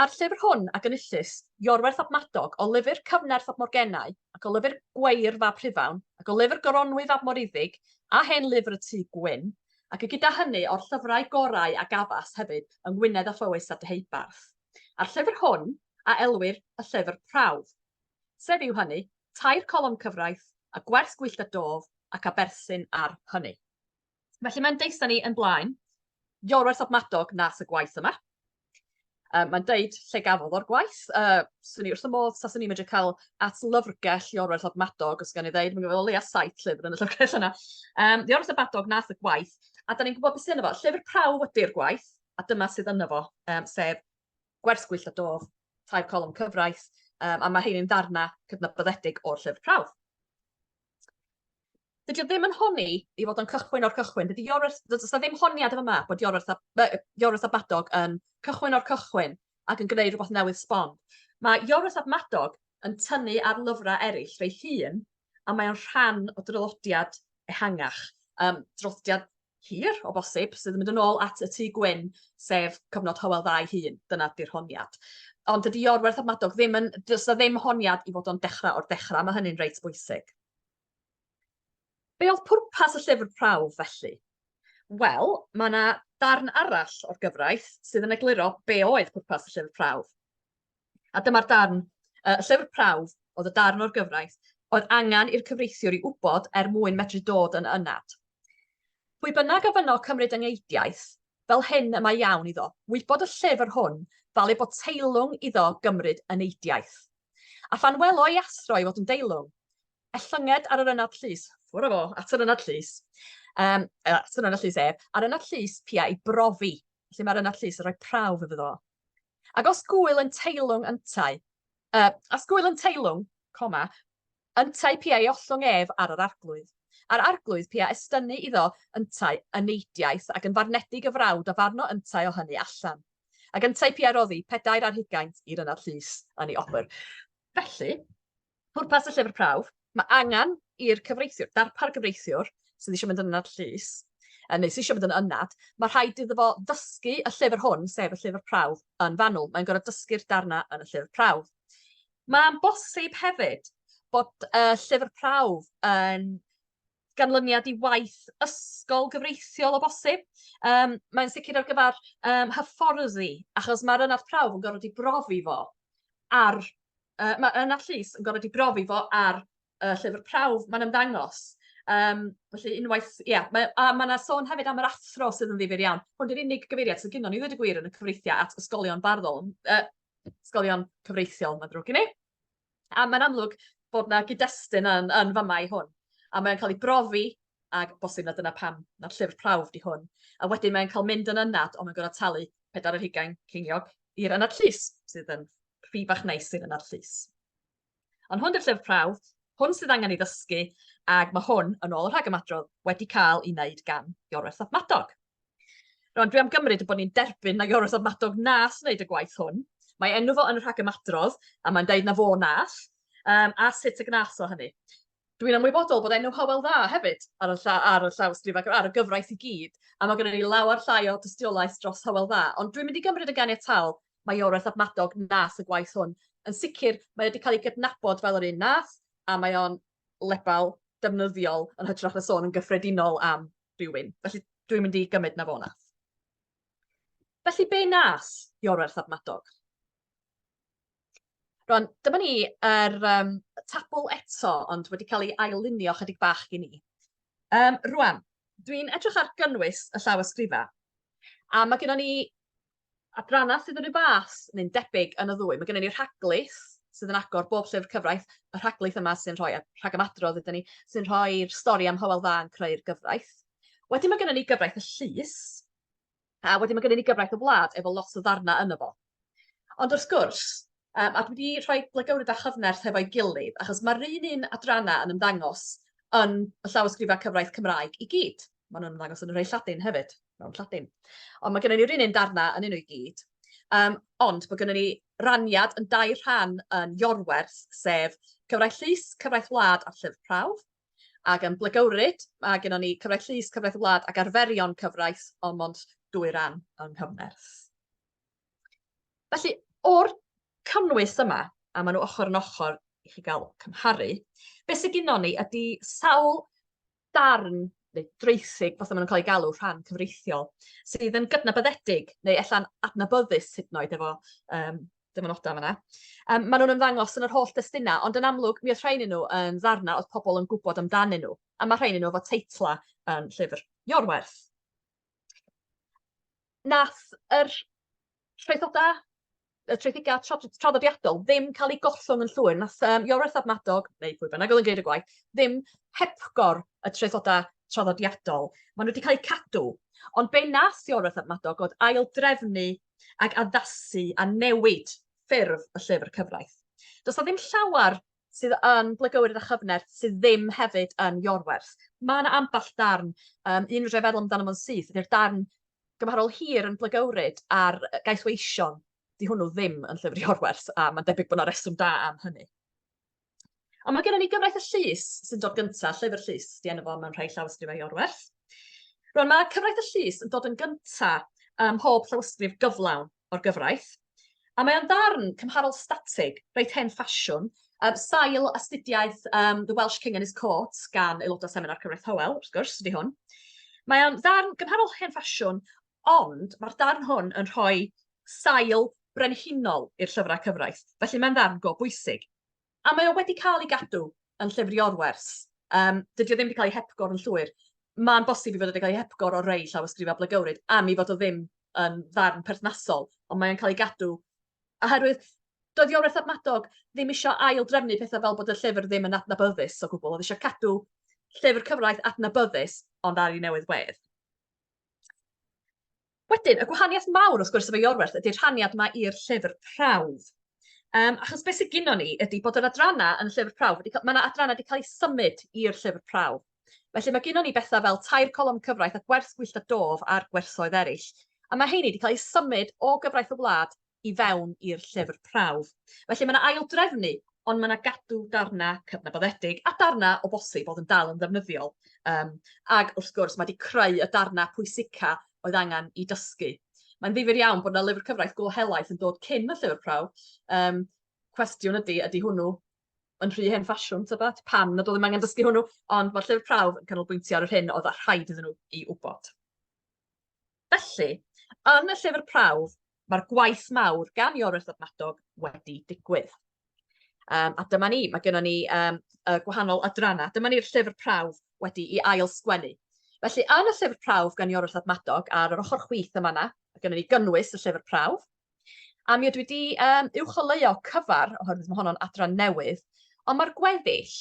A'r llyfr hwn a gynnyllus Iorwerth ap Madog o lyfr Cyfnerth ap Morgennau ac o lyfr Gweir fab Rhufawn ac o lyfr Goronwy fab Moriddig a hen lyfr y Tŷ Gwyn ac y gyda hynny o'r llyfrau gorau a gafas hefyd yng Ngwynedd a Phowys a Deheubarth. a'r llyfr hwn a elwir y llyfr prawf, sef yw hynny, tair colofn cyfraith, a gwers gwyllt a dof, ac a berthyn ar hynny. Felly mae'n deud wrthyn ni yn blaen, Iorwerth Ap Madog nas y gwaith yma. Um, mae'n deud lle gafodd o'r gwaith. Uh, swn i wrth y modd, taswn ni'n medru cael at lyfrgell Iorwerth Ap Madog, os gan i ddeud, mae'n gwybod o leia saith llyfr yn y llyfrgell yna. Um, Iorwerth Ap Madog nas y gwaith, a da ni'n gwybod beth sy'n efo. Llyfr prawf ydy'r gwaith, a dyma sydd yno fo, um, sef gwers gwyllt a dof, tair colwm cyfraith, um, a mae rhain yn ddarna cydnabyddedig o'r llyfr prawf. Dydy o ddim yn honi i fod yn cychwyn o'r cychwyn. Dydy Iorwerth, dydy ddim honiad yma bod Iorwerth a, Iorwerth a Badog yn cychwyn o'r cychwyn ac yn gwneud rhywbeth newydd sbon. Mae Iorwerth a Madog yn tynnu ar lyfrau eraill fe'i hun a mae o'n rhan o drylodiad ehangach, um, drylodiad hir o bosib sydd yn mynd yn ôl at y tu gwyn, sef cyfnod Hywel Dda ei hun. Dyna di'r honiad. Ond dydy Iorwerth a Madog ddim yn... Does na ddim honiad i fod o'n dechrau o'r dechrau, mae hynny'n reit bwysig. Be oedd pwrpas y llyfr prawf felly? Wel, mae yna darn arall o'r gyfraith sydd yn egluro be oedd pwrpas y llyfr prawf. A dyma'r darn, y llyfr prawf oedd y darn o'r gyfraith oedd angen i'r cyfreithiwr i wybod er mwyn medru dod yn ynad. Pwy bynnag a fynno cymryd yng ngeidiaeth, fel hyn y mae iawn iddo wybod y llyfr hwn fel ei bod teilwng iddo gymryd yn eidiaeth. A phan welo ei athro ei fod yn deilwng, ellynged ar yr ynad llys, ffwr â fo, at yr ynad llys, um, at yr ynad llys ef, a'r ynad llys pia ei brofi, felly mae'r ynad llys yn rhoi prawf iddo fo. Ac os gwyl yn teilwng yntau, uh, os gwyl yn teilwng, coma, yntau pia ei ollwng ef ar yr arglwydd. A'r arglwydd pia estynnu iddo yntau y neidiaeth ac yn farnedig y frawd a farno yntau o hynny allan. Ac yntau pia roddi pedair ar hugaint i'r ynad llys yn ei obr. Felly, Pwrpas y llyfr prawf, mae angen i'r cyfreithiwr, darpar gyfreithiwr sydd eisiau mynd yn ynad llys, neu sydd eisiau mynd yn ynad, mae rhaid iddo fo ddysgu y llyfr hwn, sef y llyfr prawf, yn fanwl. Mae'n gorfod dysgu'r darnau yn y llyfr prawf. Mae'n bosib hefyd bod y llyfr prawf yn ganlyniad i waith ysgol gyfreithiol o bosib yym mae'n sicir ar gyfar yym hyfforddi achos ma'r ynad prawf yn gorod 'i brofi fo ar yy ma' ynad llys yn gorod 'i brofi fo ar y llyfr prawf ma'n ymddangos yym felly unwaith ia mae o a ma' 'na sôn hefyd am yr athro sydd yn ddifyr iawn hwn 'di'r unig gyfeiriad sy gynnon ni ddweud y gwir yn y cyfreithia' at ysgolion barddol yy ysgolion cyfreithiol ma'n ddrwg gen i. A mae'n amlwg bod yna gyd-destun yn, yn fama i hwn. A mae'n cael ei brofi, ac bosib na dyna pam na'r llyfr prawf di hwn. A wedyn mae'n cael mynd yn ynad, ond mae'n gorfod talu pedair ar hugain ceiniog i'r ynad llys, sydd yn rhi bach neis i'r ynad llys. Ond hwn di'r llyfr prawf, hwn sydd angen ei ddysgu, ac mae hwn, yn ôl y rhagymadrodd, wedi cael ei wneud gan Iorwerth ap Madog. Rwan, dwi am gymryd bod ni'n derbyn na Ioros o'r Madog nas wneud y gwaith hwn. Mae enw fo yn y rhagymadrodd, a mae'n dweud na fo nas, um, a sut y gnas o hynny. Dwi'n ymwybodol bod enw Howell dda hefyd ar y, lla, ar y llawstrif ac ar y gyfraith i gyd, a mae gennym ni lawer llai o dystiolaeth dros Howell dda, ond dwi'n mynd i gymryd y ganiatal mae Ioreth ab Madog nas y gwaith hwn. Yn sicr, mae wedi cael ei gydnabod fel yr un nath, a mae o'n lebel defnyddiol yn hytrach na sôn yn gyffredinol am rywun. Felly dwi'n mynd i gymryd na fo nath. Felly be nas Iorwerth ab Madog? Rwan, dyma ni yr um, tabl eto, ond wedi cael ei ailunio chydig bach i ni. Um, rwan, dwi'n edrych ar gynnwys y llaw ysgrifa, a mae gennym ni Adrannau sydd yn rhyw fath neu'n debyg yn y ddwy. Mae gennym ni rhaglis sydd yn agor bob llyfr cyfraith, y rhaglis yma sy'n rhoi rhagymadrodd iddyn ni, sy'n rhoi'r stori am Hywel Dda yn creu'r gyfraith. Wedyn mae gennym ni gyfraith y llys, a wedyn mae gennym ni gyfraith y wlad efo lot o ddarnau yno fo. Ond wrth gwrs, Um, a dwi wedi rhoi blygywryd a chyfnerth hefo'i gilydd, achos mae'r un un adrannau yn ymddangos yn y llawysgrifau cyfraith Cymraeg i gyd. Mae nhw'n ymddangos yn y rhai Lladin hefyd, mewn Lladin. Ond mae gennym ni'r un un darnau yn un o'i gyd. Um, ond mae gennym ni raniad yn dau rhan yn Iorwerth, sef cyfraith llys, cyfraith wlad a llyfr prawf. Ac yn blygywryd, mae gennym ni cyfraith llys, cyfraith wlad ac arferion cyfraith, ond mond dwy ran yng nghyfnerth. Felly, o'r cynnwys yma, a maen nhw ochr yn ochr i chi gael cymharu, beth sydd gyda ni ydy sawl darn neu dreithig, fath maen nhw'n cael eu galw rhan cyfreithiol, sydd yn gydnabyddedig neu ella'n adnabyddus hyd yn oed efo um, dyfynodau yma. Um, maen nhw'n ymddangos yn yr holl destunau, ond yn amlwg mi oedd rhain nhw yn ddarnau oedd pobl yn gwybod amdanyn nhw, a mae rhain nhw efo teitlau yn llyfr Iorwerth. Nath yr traethoda y traethiga traddodiadol ddim cael ei gollwng yn llwyr. Nath um, Iorwerth ab Madog, neu pwy bynnag oedd yn gwneud y gwaith, ddim hepgor y traethoda traddodiadol. Maen nhw wedi cael eu cadw. Ond be nath Iorwerth ab Madog oedd ail drefnu ac addasu a newid ffurf y llyfr cyfraith. Does na ddim llawer sydd yn blygywyr a chyfner sydd ddim hefyd yn Iorwerth. Mae yna ambell darn, um, un fedra i feddwl amdano fo'n syth, ydy'r darn gymharol hir yn blygywryd ar gaeth weision. Di hwnnw ddim yn llyfr Iorwerth, a mae'n debyg bod yna reswm da am hynny. Ond mae gennym ni gyfraith y llys sy'n dod gyntaf, llyfr llys, di enw fo mewn rhai llawysgrifau Iorwerth. Rwan, mae cyfraith y llys yn dod yn gyntaf ym mhob llawysgrif gyflawn. o'r gyfraith, a mae o'n ddarn cymharol statig, reit hen ffasiwn, um, sail astudiaeth um, The Welsh King and His Court gan aelodau Seminar Cyfraith Howell, wrth gwrs, ydy hwn. Mae o'n ddarn gymharol hen ffasiwn, ond mae'r darn hwn yn rhoi sail brenhinol i'r llyfrau cyfraith, felly mae'n ddarn go bwysig. A mae o wedi cael ei gadw yn llyfr Iorwerth. Um, dydy o ddim wedi cael ei hepgor yn llwyr. Mae'n bosib i fod wedi cael ei hepgor o rei llawysgrifau blygywryd am i fod o ddim yn ddarn perthnasol, ond mae'n cael ei gadw oherwydd doedd Iorwerth ap Madog ddim eisiau ail drefnu pethau fel bod y llyfr ddim yn adnabyddus o gwbl, oedd eisiau cadw llyfr cyfraith adnabyddus ond ar ei newydd wedd. Wedyn, y gwahaniaeth mawr wrth gwrs efo Iorwerth ydy'r rhaniad yma i'r llyfr prawf. Um, achos beth sydd gyda ni ydy bod yr adrannau yn y llyfr prawf, wedi, mae yna adrannau wedi cael eu symud i'r llyfr prawf. Felly mae gyda ni bethau fel tair colofn cyfraith a gwerth gwyllt a dof a'r gwerthoedd eraill. A mae heini wedi cael eu symud o gyfraith y wlad i fewn i'r llyfr prawf. Felly mae yna aildrefnu, ond mae yna gadw darnau cydnabyddedig a darnau o bosib oedd yn dal yn ddefnyddiol. Um, ac wrth gwrs, mae wedi creu y darnau pwysica oedd angen i dysgu. Mae'n ddifur iawn bod yna lyfr cyfraith go helaeth yn dod cyn y llyfr prawf. Um, cwestiwn ydy, ydy hwnnw yn rhy hen ffasiwn, ta beth, pam nad oedd ddim angen dysgu hwnnw, ond mae'r llyfr prawf yn canolbwyntio ar yr hyn oedd rhaid iddyn nhw i wybod. Felly, yn y llyfr prawf, mae'r gwaith mawr gan Iorwerth Ddadnadog wedi digwydd. Um, a dyma ni, mae gennym ni um, y gwahanol adrannau. Dyma ni'r llyfr prawf wedi i ail sgwennu. Felly, yn y llyfr prawf gan Iorwerth Ddadnadog, ar yr ochr chwith yma yna, mae gennym ni gynnwys y llyfr prawf. A mi ydw i wedi um, uwcholeuo cyfar, oherwydd mae honno'n adran newydd, ond mae'r gweddill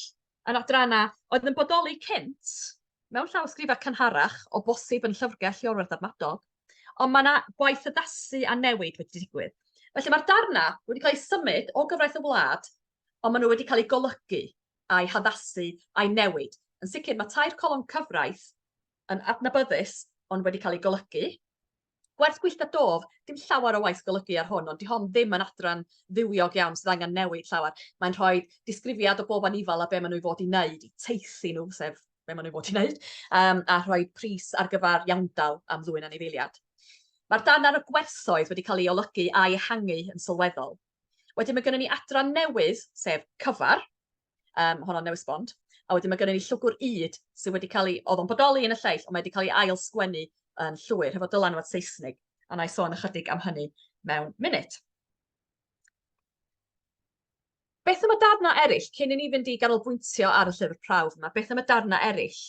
yn adrannau oedd yn bodoli cynt mewn llawysgrifau cynharach, o bosib yn llyfrgell i orwerth adnadol, ond mae yna gwaith addasu a newid wedi digwydd. Felly mae'r darnau wedi cael eu symud o gyfraith y wlad, ond maen nhw wedi cael eu golygu a'i haddasu a'i newid. Yn sicr mae tair colofn cyfraith yn adnabyddus ond wedi cael eu golygu, Gwerth gwyllta dof, dim llawer o waith golygu ar hwn, ond di hon ddim yn adran fywiog iawn sydd angen newid llawer. Mae'n rhoi disgrifiad o bob anifal a be maen nhw i fod i wneud, i teithi nhw, sef be maen nhw i fod i wneud, um, a rhoi pris ar gyfer iawndal am ddwy'n anifeiliad. Mae'r dan ar y gwerthoedd wedi cael ei olygu a'i ehangu yn sylweddol. Wedyn mae gennym ni adran newydd, sef cyfar, Um, honno'n newis bond. A wedyn mae gennym ni llwgwr ŷd sydd wedi cael ei... oedd o'n bodoli yn y lleill, ond mae wedi cael ei ail sgwennu yn llwyr hefo dylanwad Saesnig, a na i sôn ychydig am hynny mewn munud. Beth am y darnau eraill, cyn i ni fynd i ganolbwyntio ar y llyfr prawf yma, beth am y darnau eraill?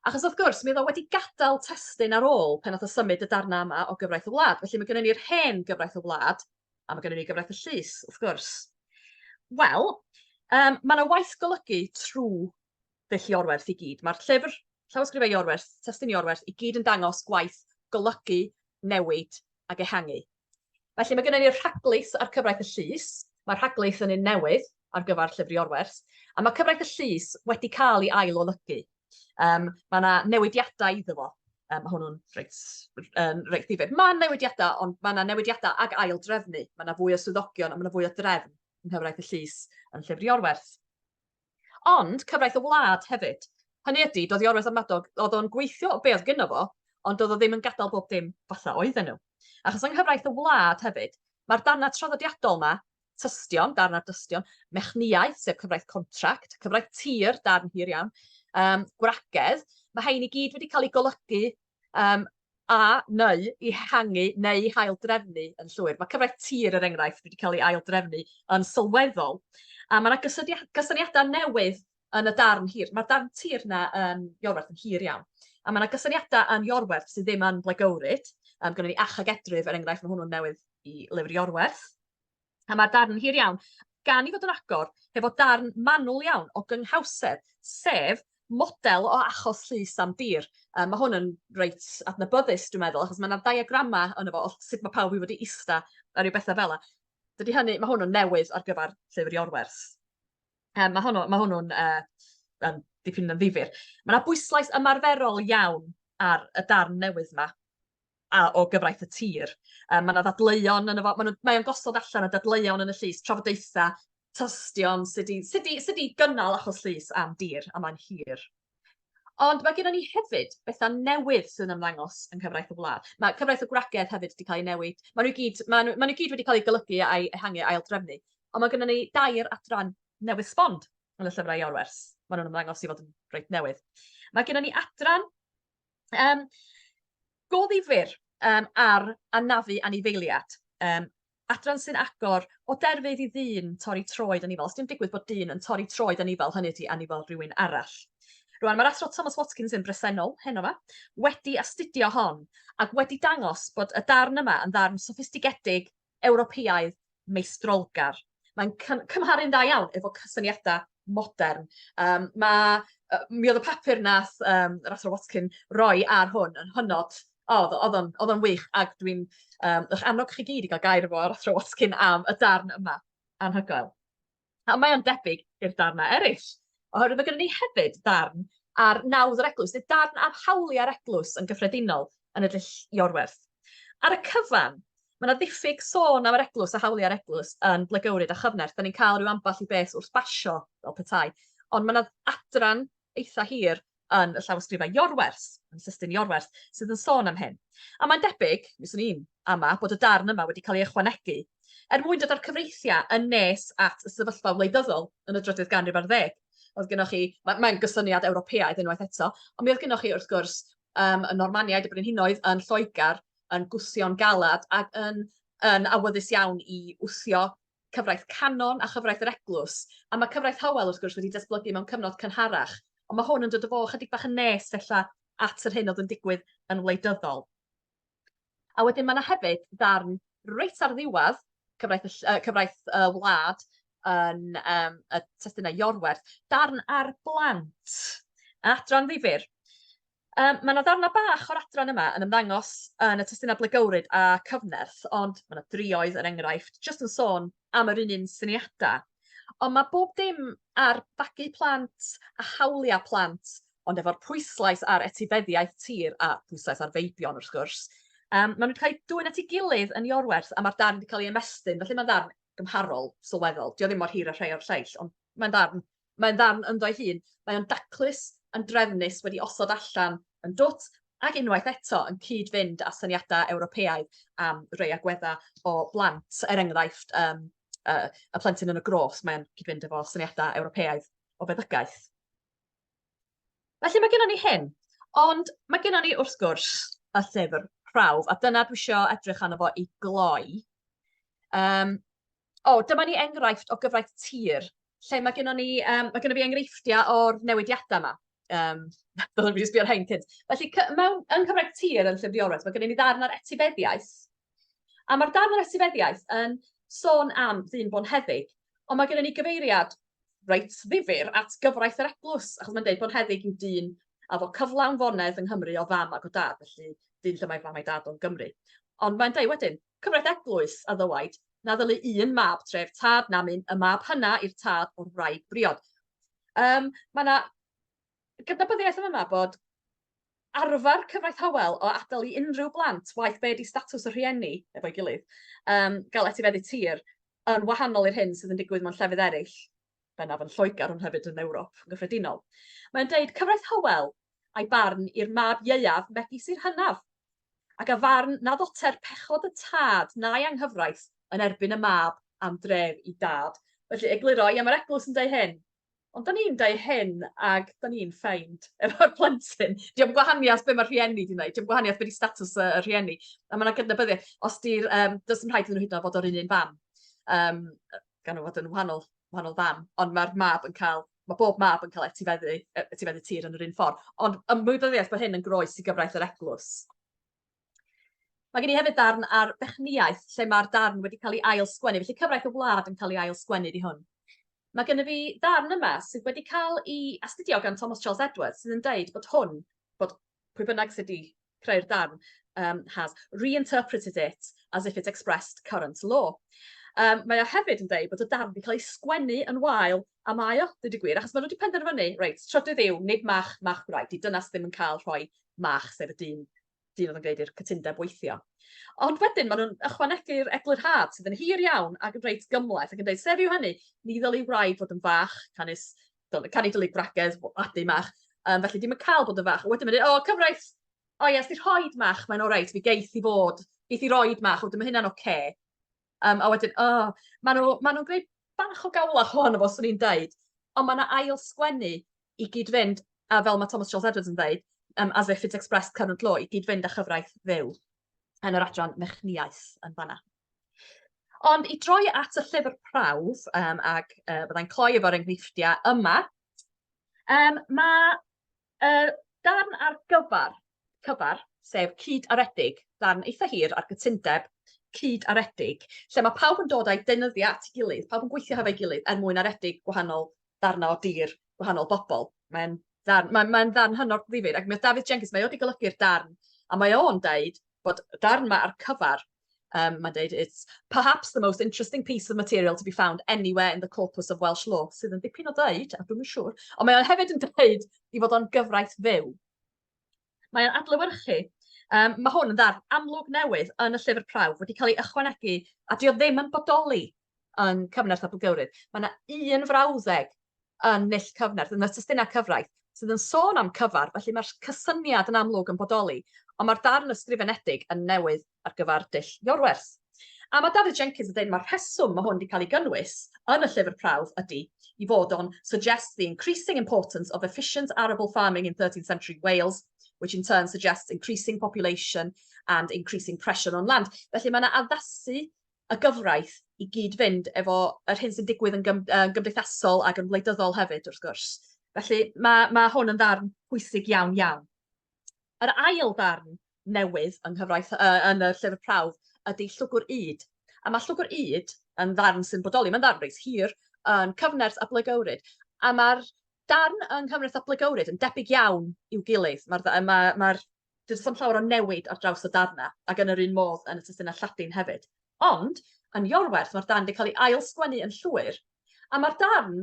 Achos wrth gwrs, mi oedd o wedi gadael testun ar ôl pan nath o symud y darnau yma o gyfraith y wlad. Felly mae gennym ni'r hen gyfraith y wlad, a mae gennym ni gyfraith y llys, wrth gwrs. Wel, um, mae yna waith golygu trwy ddull Iorwerth i gyd. Mae'r llyfr llawysgrifau Iorwerth, testun Iorwerth, i gyd yn dangos gwaith golygu, newid ac ehangu. Felly mae gennym ni'r rhaglaeth a'r cyfraith y llys. Mae'r rhaglaeth yn un newydd ar gyfer Llyfr Iorwerth, a mae cyfraith y llys wedi cael ei ail-olygu. Um, mae yna newidiadau iddo fo. Um, mae hwnnw'n reit, um, reit ddifyr. Mae newidiadau, ond mae yna newidiadau ag ail-drefnu. Mae yna fwy o swyddogion a mae yna fwy o drefn yn nghyfraith y llys yn Llyfr Iorwerth. Ond cyfraith y wlad hefyd. Hynny ydi, doedd Iorwerth a Madog, oedd o'n gweithio o be oedd gyno fo, ond doedd o ddim yn gadael bob dim fatha oedden nhw. Achos yng nghyfraith y wlad hefyd, mae'r darnau traddodiadol yma, tystion, darn ar dystion, mechnïaeth, sef cyfraith contract, cyfraith tir, darn hir iawn, um, gwragedd, mae hein i gyd wedi cael eu golygu um, a neu i hangu neu i haildrefnu yn llwyr. Mae cyfraith tir, er enghraifft, wedi cael ei aildrefnu yn sylweddol. A mae yna gysyniadau newydd yn y darn hir. Mae'r darn tir yna yn Iorwerth yn hir iawn. A mae yna gysyniadau yn Iorwerth sydd ddim yn Blaegowrid. Um, Gwneud ni achag edryf, er enghraifft, mae hwnnw'n newydd i lyfr Iorwerth. A mae'r darn yn hir iawn, gan i fod yn agor, hefo darn manwl iawn o gynghawsedd, sef model o achos llys am dir. Um, mae hwn yn reit adnabyddus, dwi'n meddwl, achos mae yna diagramau yn efo o sut mae pawb i fod i ista a rhyw bethau fel yna. Dydy hynny, mae hwnnw'n newydd ar gyfer llyfr i orwerth. Um, mae hwnnw'n ma hwnnw uh, um, dipyn yn ddifur. Mae yna bwyslais ymarferol iawn ar y darn newydd yma. a o gyfraith y tir. Yym ma' 'na ddadleuon yno fo, ma' nw mae o'n gosod allan y dadleuon yn y llys, trafodaetha, tystion, sut i sut i sut i gynnal achos llys am dir, a mae'n hir. Ond mae gennon ni hefyd betha newydd sydd yn ymddangos yng nghyfraith y wlad. Mae cyfraith y gwragedd hefyd wedi cael ei newid. Maen nhw i gyd maen nhw maen nhw gyd wedi cael eu golygu a'i ehangu ail drefnu. Ond mae gennon ni dair adran newydd sbon yn y llyfrau i orwers. Maen nhw'n ymddangos i fod yn reit newydd. Mae gennon ni adran Yym, go ddifyr um, ar anafu anifeiliad. Um, adran sy'n agor o derfydd i ddyn torri troed yn ifel. Os dim digwydd bod dyn yn torri troed yn ifel, hynny ydi anifel rhywun arall. Rwan, mae'r athro Thomas Watkins yn bresennol, heno fa, wedi astudio hon ac wedi dangos bod y darn yma yn ddarn soffistigedig Ewropeaidd meistrolgar. Mae'n cym- cymharu'n dda iawn efo cysyniadau modern. Um, mae, uh, mi oedd y papur nath um, yr Athro Watkin roi ar hwn yn hynod O, oedd o'n oedd o'n wych, ac dwi'n um, eich annog chi gyd i gael gair efo ar athro Watkin am y darn yma. Anhygoel. A mae o'n debyg i'r darnau eraill, oherwydd mae gennym ni hefyd darn ar nawdd yr eglwys, neu darn am hawliau'r eglwys yn gyffredinol yn y dull Iorwerth. Ar y cyfan, mae yna ddiffyg sôn am yr eglwys a hawliau'r eglwys yn Blagywryd a Chyfnerth. Da ni'n cael rhyw ambell i beth wrth basio fel petai, ond mae yna adran eitha hir yn y llawysgrifau Iorwerth, yn System Iorwerth, sydd yn sôn am hyn. A mae'n debyg, mi swn i'n ama, bod y darn yma wedi cael ei ychwanegu er mwyn dod â'r cyfreithiau yn nes at y sefyllfa wleidyddol yn y drydydd ganrif ar ddeg. Oedd gennych chi, mae'n mae gysyniad Ewropeaidd unwaith eto, ond mi oedd gennych chi wrth gwrs um, y Normaniaid, y Brenhinoedd yn Lloegr, yn gwthio'n galad ac yn, yn awyddus iawn i wthio cyfraith canon a chyfraith yr eglwys, a mae cyfraith Howell wrth gwrs wedi datblygu mewn cyfnod cynharach, ond mae hwn yn dod o fo chydig bach yn nes fella at yr hyn oedd yn digwydd yn wleidyddol. A wedyn mae yna hefyd ddarn reit ar ddiwedd cyfraith, uh, cyfraith uh, wlad yn um, y testunau Iorwerth, darn ar blant, adran ddifur. Yym, mae 'na ddarnau bach o'r adran yma yn ymddangos yn y testunau blegywryd a cyfnerth, ond mae 'na drioedd, er enghraifft, jyst yn sôn am yr un un syniadau. Ond mae bob dim ar fagu plant a hawliau plant, ond efo'r pwyslais ar etifeddiaeth tir a phwyslais ar feibion wrth gwrs. Um, maen nhw wedi cael eu dwyn at ei gilydd yn Iorwerth a mae'r darn wedi cael ei ymestyn, felly mae'n ddarn gymharol sylweddol. Dio ddim mor hir a rhai o'r lleill, ond mae'n ddarn Mae'n ddarn ynddo'i hun, mae o'n daclus, yn drefnus, wedi osod allan yn dwt, ac unwaith eto yn cyd-fynd â syniadau Ewropeaidd am rei agweddau o blant, er enghraifft um, uh, y plentyn yn y gros, mae'n cyd-fynd efo syniadau Ewropeaidd o feddygaeth. Felly mae gennym ni hyn, ond mae gennym ni wrth gwrs y llyfr prawf, a dyna dwi eisiau edrych arno fo i gloi. Um, O, dyma ni enghraifft o gyfraith tir, lle mae gennyn ni... yym mae gennyn ni enghreifftiau o'r newidiadau 'ma. Yym dylwn i 'di sbio ar rhein cynt. Felly cy- mewn... yng nghyfraith tir yn Llyfr Diorwaith, mae gennyn ni ddarn ar etifeddiaeth, a ma'r darn ar etifeddiaeth yn sôn am ddyn bonheddig, ond mae gennyn ni gyfeiriad reit ddifyr at gyfraith yr eglwys, achos mae'n deud bonheddig yw dyn a fo cyflawn fonedd yng Nghymru o fam ac o dad, felly dyn lle mae fam a'i dad o'n Gymru. Ond mae'n deud wedyn, Cyfraith eglwys, a ddywaid, na ddylu un mab tref tad nam un y mab hynna i'r tad o'r wraig briod. Um, mae yna gydnabyddiaeth yn yma bod arfer cyfraith Hywel o adael i unrhyw blant, waith be di statws y rhieni efo'i gilydd, um, gael etifeddu tir yn wahanol i'r hyn sydd yn digwydd mewn llefydd eraill. bennaf yn Lloegr ond hefyd yn Ewrop yn gyffredinol. Mae'n dweud, cyfraith Hywel a'i barn i'r mab ieuaf megis i'r hynaf, ac a farn na ddoter pechod y tad na'i anghyfraith yn erbyn y mab am dref i dad. Felly, egluro, ia, mae'r eglwys yn dweud hyn, ond da ni'n dweud hyn ac da ni'n ffeind efo'r plentyn. Diolch gwahaniaeth beth mae'r rhieni wedi gwneud, diolch gwahaniaeth beth i status y rhieni. A mae yna gydnabyddiaeth, os di'r, um, does dim rhaid iddyn nhw hyd yn oed fod o'r un un fam. Um, gan fod yn wahanol wahanol fam ond ma'r mab yn ca'l ma' bob mab yn ca'l etifeddu yy etifeddu tir yn yr un ffor ond ymwybyddiaeth bo' hyn yn groes i gyfraith yr eglwys. Mae gen i hefyd darn ar fechnïaeth lle ma'r darn wedi cael ei ail sgwennu felly cyfraith y wlad yn cael ei ail sgwennu di hwn. Mae gen i fi ddarn yma sydd wedi cael ei astudio gan Thomas Charles Edwards sydd yn deud bod hwn bod pwy bynnag sydd wedi creu'r darn, um, has reinterpreted it as if it expressed current law. Um, mae o hefyd yn dweud bod y darn wedi cael ei sgwennu yn wael a mae o, dweud y gwir, achos mae nhw wedi penderfynu, reit, trydydd yw, nid mach, mach gwraig, di dynas ddim yn cael rhoi mach, sef y dyn, dyn oedd yn gwneud i'r cytundeb weithio. Ond wedyn, maen nhw'n ychwanegu'r eglurhad sydd yn hir iawn ac yn reit gymleth ac yn dweud, sef yw hynny, ni ddylai wraig fod yn fach, canys fel y canu dylig bragedd, adu mach, um, felly ddim yn cael bod yn fach. Wedyn mae'n dweud, o, cyfraith, o ie, ysdi rhoi mach, mae'n orau, fi geith i fod, geith i roi mach, wedyn mae hynna'n oce. Okay. Um, a wedyn, o, oh, maen nhw'n ma nhw gwneud bach o gawlach hon o fos o'n i'n dweud, ond mae yna ail sgwennu i gyd fynd, a fel mae Thomas Charles Edwards yn dweud, um, as if it's expressed current law, i gyd fynd â chyfraith fyw. yn yr adran mechnïaeth yn fanna. Ond i droi at y llyfr prawf, um, ac uh, byddai'n cloi efo'r enghreifftiau yma, um, mae uh, darn ar gyfer, cyfer, sef cyd aredig, darn eitha hir ar gytundeb cyd aredig, lle mae pawb yn dod a'i deunyddiau at ei gilydd, pawb yn gweithio hefo'i gilydd er mwyn aredig gwahanol darna o dir gwahanol bobol. Mae'n ddarn mae'n mae'n ddarn hynod ddifyr ac mae David Jenkins mae o 'di golygu'r darn a mae o'n deud bod y darn 'ma ar cyfar Um, mae'n deud, it's perhaps the most interesting piece of material to be found anywhere in the corpus of Welsh law, sydd yn dipyn o ddeud, a dwi'n siŵr, ond mae o'n hefyd yn dweud i fod o'n gyfraith fyw. Mae'n adlewyrchu Um, mae hwn yn ddarn amlwg newydd yn y llyfr prawf wedi cael ei ychwanegu a dio ddim yn bodoli yn cyfnerth a bwgywryd. Mae yna un frawddeg yn nill cyfnerth, yn y testunau cyfraith, sydd yn sôn am cyfar, felly mae'r cysyniad yn amlwg yn bodoli, ond mae'r darn ysgrifenedig yn newydd. ar gyfer dull Iorwerth. A mae Dafydd Jenkins yn dweud mae'r rheswm mae hwn wedi cael ei gynnwys yn y llyfr prawf ydy i fod o'n suggest the increasing importance of efficient arable farming in 13th century Wales, which in turn suggests increasing population and increasing pressure on land. Felly mae yna addasu y gyfraith i gyd-fynd efo yr hyn sy'n digwydd yn gym, uh, gymdeithasol ac yn wleidyddol hefyd, wrth gwrs. Felly mae, mae hwn yn ddarn pwysig iawn iawn. Yr ail ddarn newydd yng nghyfraith yy yn y llyfr prawf ydy llwgwr ŷd. A mae llwgwr ŷd yn ddarn sy'n bodoli, mae'n ddarn reit hir, yn cyfnerth a blygywryd. A mae'r darn yng nghyfnerth a blygywryd yn debyg iawn i'w gilydd. Mae'r mae, mae, mae Does dim llawer o newid ar draws y darnau, ac yn yr un modd yn y testunau Lladin hefyd. Ond, yn Iorwerth, mae'r darn wedi cael ei ail-sgwennu yn llwyr, a mae'r darn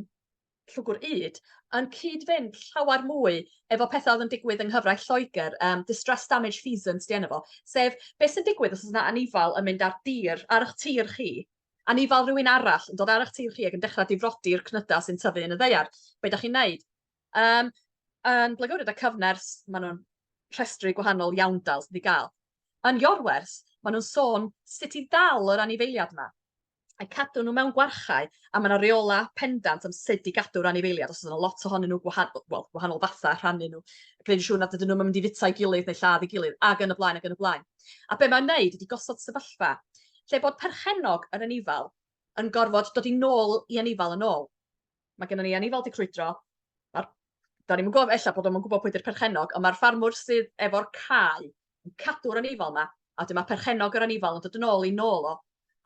Llwgwr Ŷd yn cyd-fynd llawer mwy efo pethau oedd yn digwydd yng nghyfraith Lloegr, um, distress damage feasance di enw fo, sef beth sy'n digwydd os oes yna anifal yn mynd ar dir, ar eich tir chi, anifal rhywun arall yn dod ar eich tir chi ac yn dechrau difrodi'r cnydau sy'n tyfu yn y ddeiar. Be da chi'n neud? Um, yn Blaengored a Cyfners, maen nhw'n rhestru gwahanol iawndal sydd wedi cael. Yn Iorwers, maen nhw'n sôn sut i ddal yr anifeiliad yma. a cadw nhw mewn gwarchae a mae yna reola pendant am sut i gadw'r anifeiliad os yna lot ohonyn nhw gwahanol wel gwahanol fatha rhannu nhw gwneud yn siŵr nad ydyn nhw'n mynd i fita'i gilydd neu lladd ei gilydd ac yn y blaen ac yn y blaen. A be mae'n wneud ydy gosod sefyllfa lle bod perchennog yr anifal yn gorfod dod i nôl i anifal yn ôl. Mae gennym ni anifail 'di crwydro. Ma'r... Da ni'm yn gwybod, ella bod nhw'm yn gwybod pwy 'di'r perchennog, ond mae'r ffarmwr sydd efo'r cae yn cadw'r anifail 'ma, a wedyn mae perchennog yr anifail yn dod yn ôl i nôl o.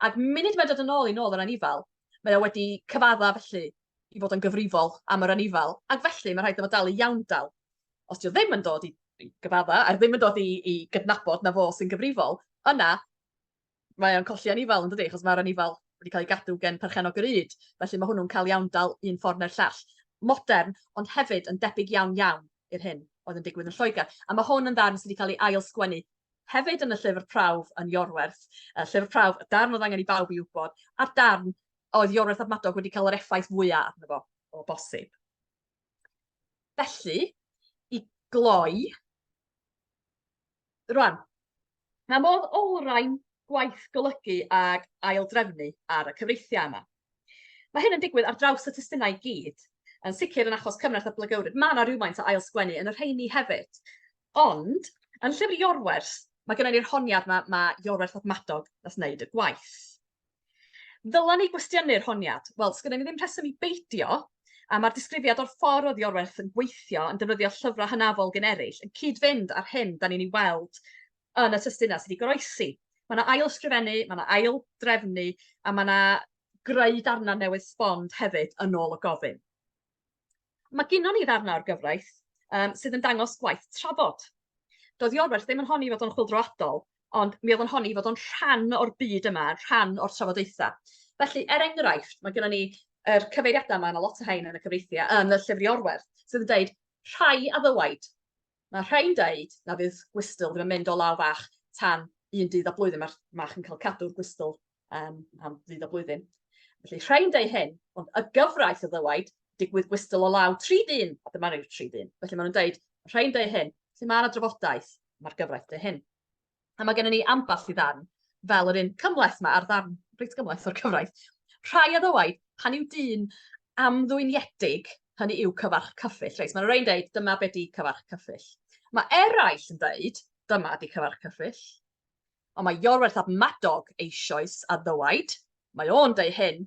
Ac munud mae'n dod yn ôl i nôl yr anifail, mae o wedi cyfadda felly i fod yn gyfrifol am yr anifail, ac felly mae rhaid iddo fo dal i iawndal. Os 'di o ddim yn dod i gyfadda, a ddim yn dod i i gydnabod na fo sy'n gyfrifol, yna mae o'n colli anifail yn dydi, achos mae'r anifail wedi cael ei gadw gen perchennog yr ŷd, felly mae hwnnw'n cael iawn dal un ffordd neu'r llall. Modern, ond hefyd yn debyg iawn iawn i'r hyn oedd yn digwydd yn Lloegr. A mae hwn yn ddarn sydd wedi cael ei ail-sgwennu hefyd yn y llyfr prawf yn Iorwerth. Y llyfr prawf, y darn oedd angen i bawb i wybod, a'r darn oedd Iorwerth a Madog wedi cael yr effaith fwyaf arno fo o bosib. Felly, i gloi, Rwan, pa modd olrhain gwaith golygu ag aildrefnu ar y cyfreithiau yma? Mae hyn yn digwydd ar draws y testunau i gyd, yn sicr yn achos Cymraith a Blagywryd, mae yna rhywfaint o ailsgwennu yn y rheini hefyd. Ond, yn llyfr Iorwerth, mae gennym ni'r honiad yma, mae Iorwerth fab Madog nath wneud y gwaith. Ddylen ni gwestiynu'r honiad? Wel, sgynnon ni ddim rheswm i beidio, a mae'r disgrifiad o'r ffordd oedd Iorwerth yn gweithio yn defnyddio llyfrau hynafol generyll yn cyd-fynd â'r hyn da ni'n ei weld yn y testunau sydd wedi goroesi. Mae yna ail-ysgrifennu, mae yna ail-drefnu a mae yna greu darnau newydd sbon hefyd yn ôl y gofyn. Mae gynnon ni ddarnau o'r gyfraith um, sydd yn dangos gwaith trafod. Doedd Iorwerth ddim yn honni fod o'n chwildroadol, ond mi oedd yn honni fod o'n rhan o'r byd yma, rhan o'r trafodaethau. Felly, er enghraifft, mae gennym ni yr cyfeiriadau yma, mae lot o rhain yn y cyfreithiau, yn y llyfr Iorwerth, sydd yn dweud rhai a ddywaid. Mae rhai'n dweud na fydd gwystyl ddim yn mynd o law fach tan un dydd a blwyddyn mae'r mach yn cael cadw'r gwystyl um, am ddydd o blwyddyn. Felly rhain dau hyn, ond y gyfraith o ddywaid, digwydd gwystl o law tri dyn, a dyma rhyw tri dyn. Felly maen nhw'n dweud, rhain dau hyn, felly mae yna drafodaeth, mae'r gyfraith dau hyn. A mae gennym ni ambell i ddarn, fel yr un cymleth mae ar ddarn reit gymleth o'r cyfraith. Rhai a ddywaid, pan yw dyn amddwyniedig, hynny yw cyfarch cyffill. Reit, mae'n rhaid dweud, dyma be di cyfarch cyffill. Mae eraill yn dweud, dyma di cyfarch cyffill. ond mae Iorwerth ap Madog eisioes a ddywaid, Mae o'n deu hyn,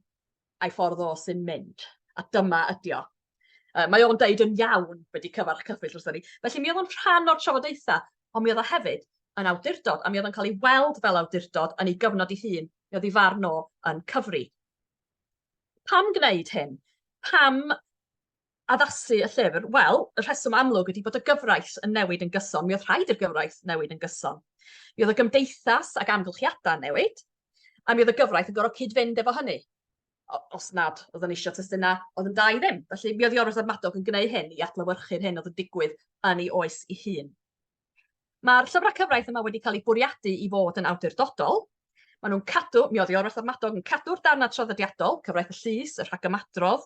a'i ffordd o sy'n mynd, a dyma ydi o. Uh, mae o'n deud yn iawn wedi cyfarch cyffill wrthyn ni. Felly mi oedd o'n rhan o'r trafodaethau, ond mi oedd o hefyd yn awdurdod, a mi oedd o'n cael ei weld fel awdurdod yn ei gyfnod ei hun, mi oedd ei farn o yn cyfri. Pam gwneud hyn? Pam addasu y llyfr? Wel, y rheswm amlwg ydy bod y gyfraith yn newid yn gyson. Mi oedd rhaid i'r gyfraith newid yn gyson. Mi oedd y gymdeithas ac amgylchiadau yn newid, a mi oedd y gyfraith yn gorfod cyd-fynd efo hynny os nad oedd yn eisiau testunau, oedd yn da i ddim. Felly mi oedd Iorwerth a'r Madog yn gwneud hyn i adlywyrchu'r hyn oedd yn digwydd yn ei oes ei hun. Mae'r llyfrau cyfraith yma wedi cael eu bwriadu i fod yn awdurdodol. Maen nhw'n cadw, mi oedd Iorwerth a'r Madog yn cadw'r darnau traddodiadol, cyfraith y llys, y rhagymadrodd,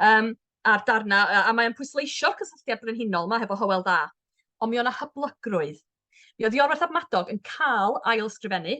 um, a'r darnau, a, a mae'n pwysleisio'r cysylltiad brenhinol yma hefo Hywel Dda. Ond mi o'na hyblygrwydd. Mi oedd Iorwerth a'r Madog yn cael ail ysgrifennu,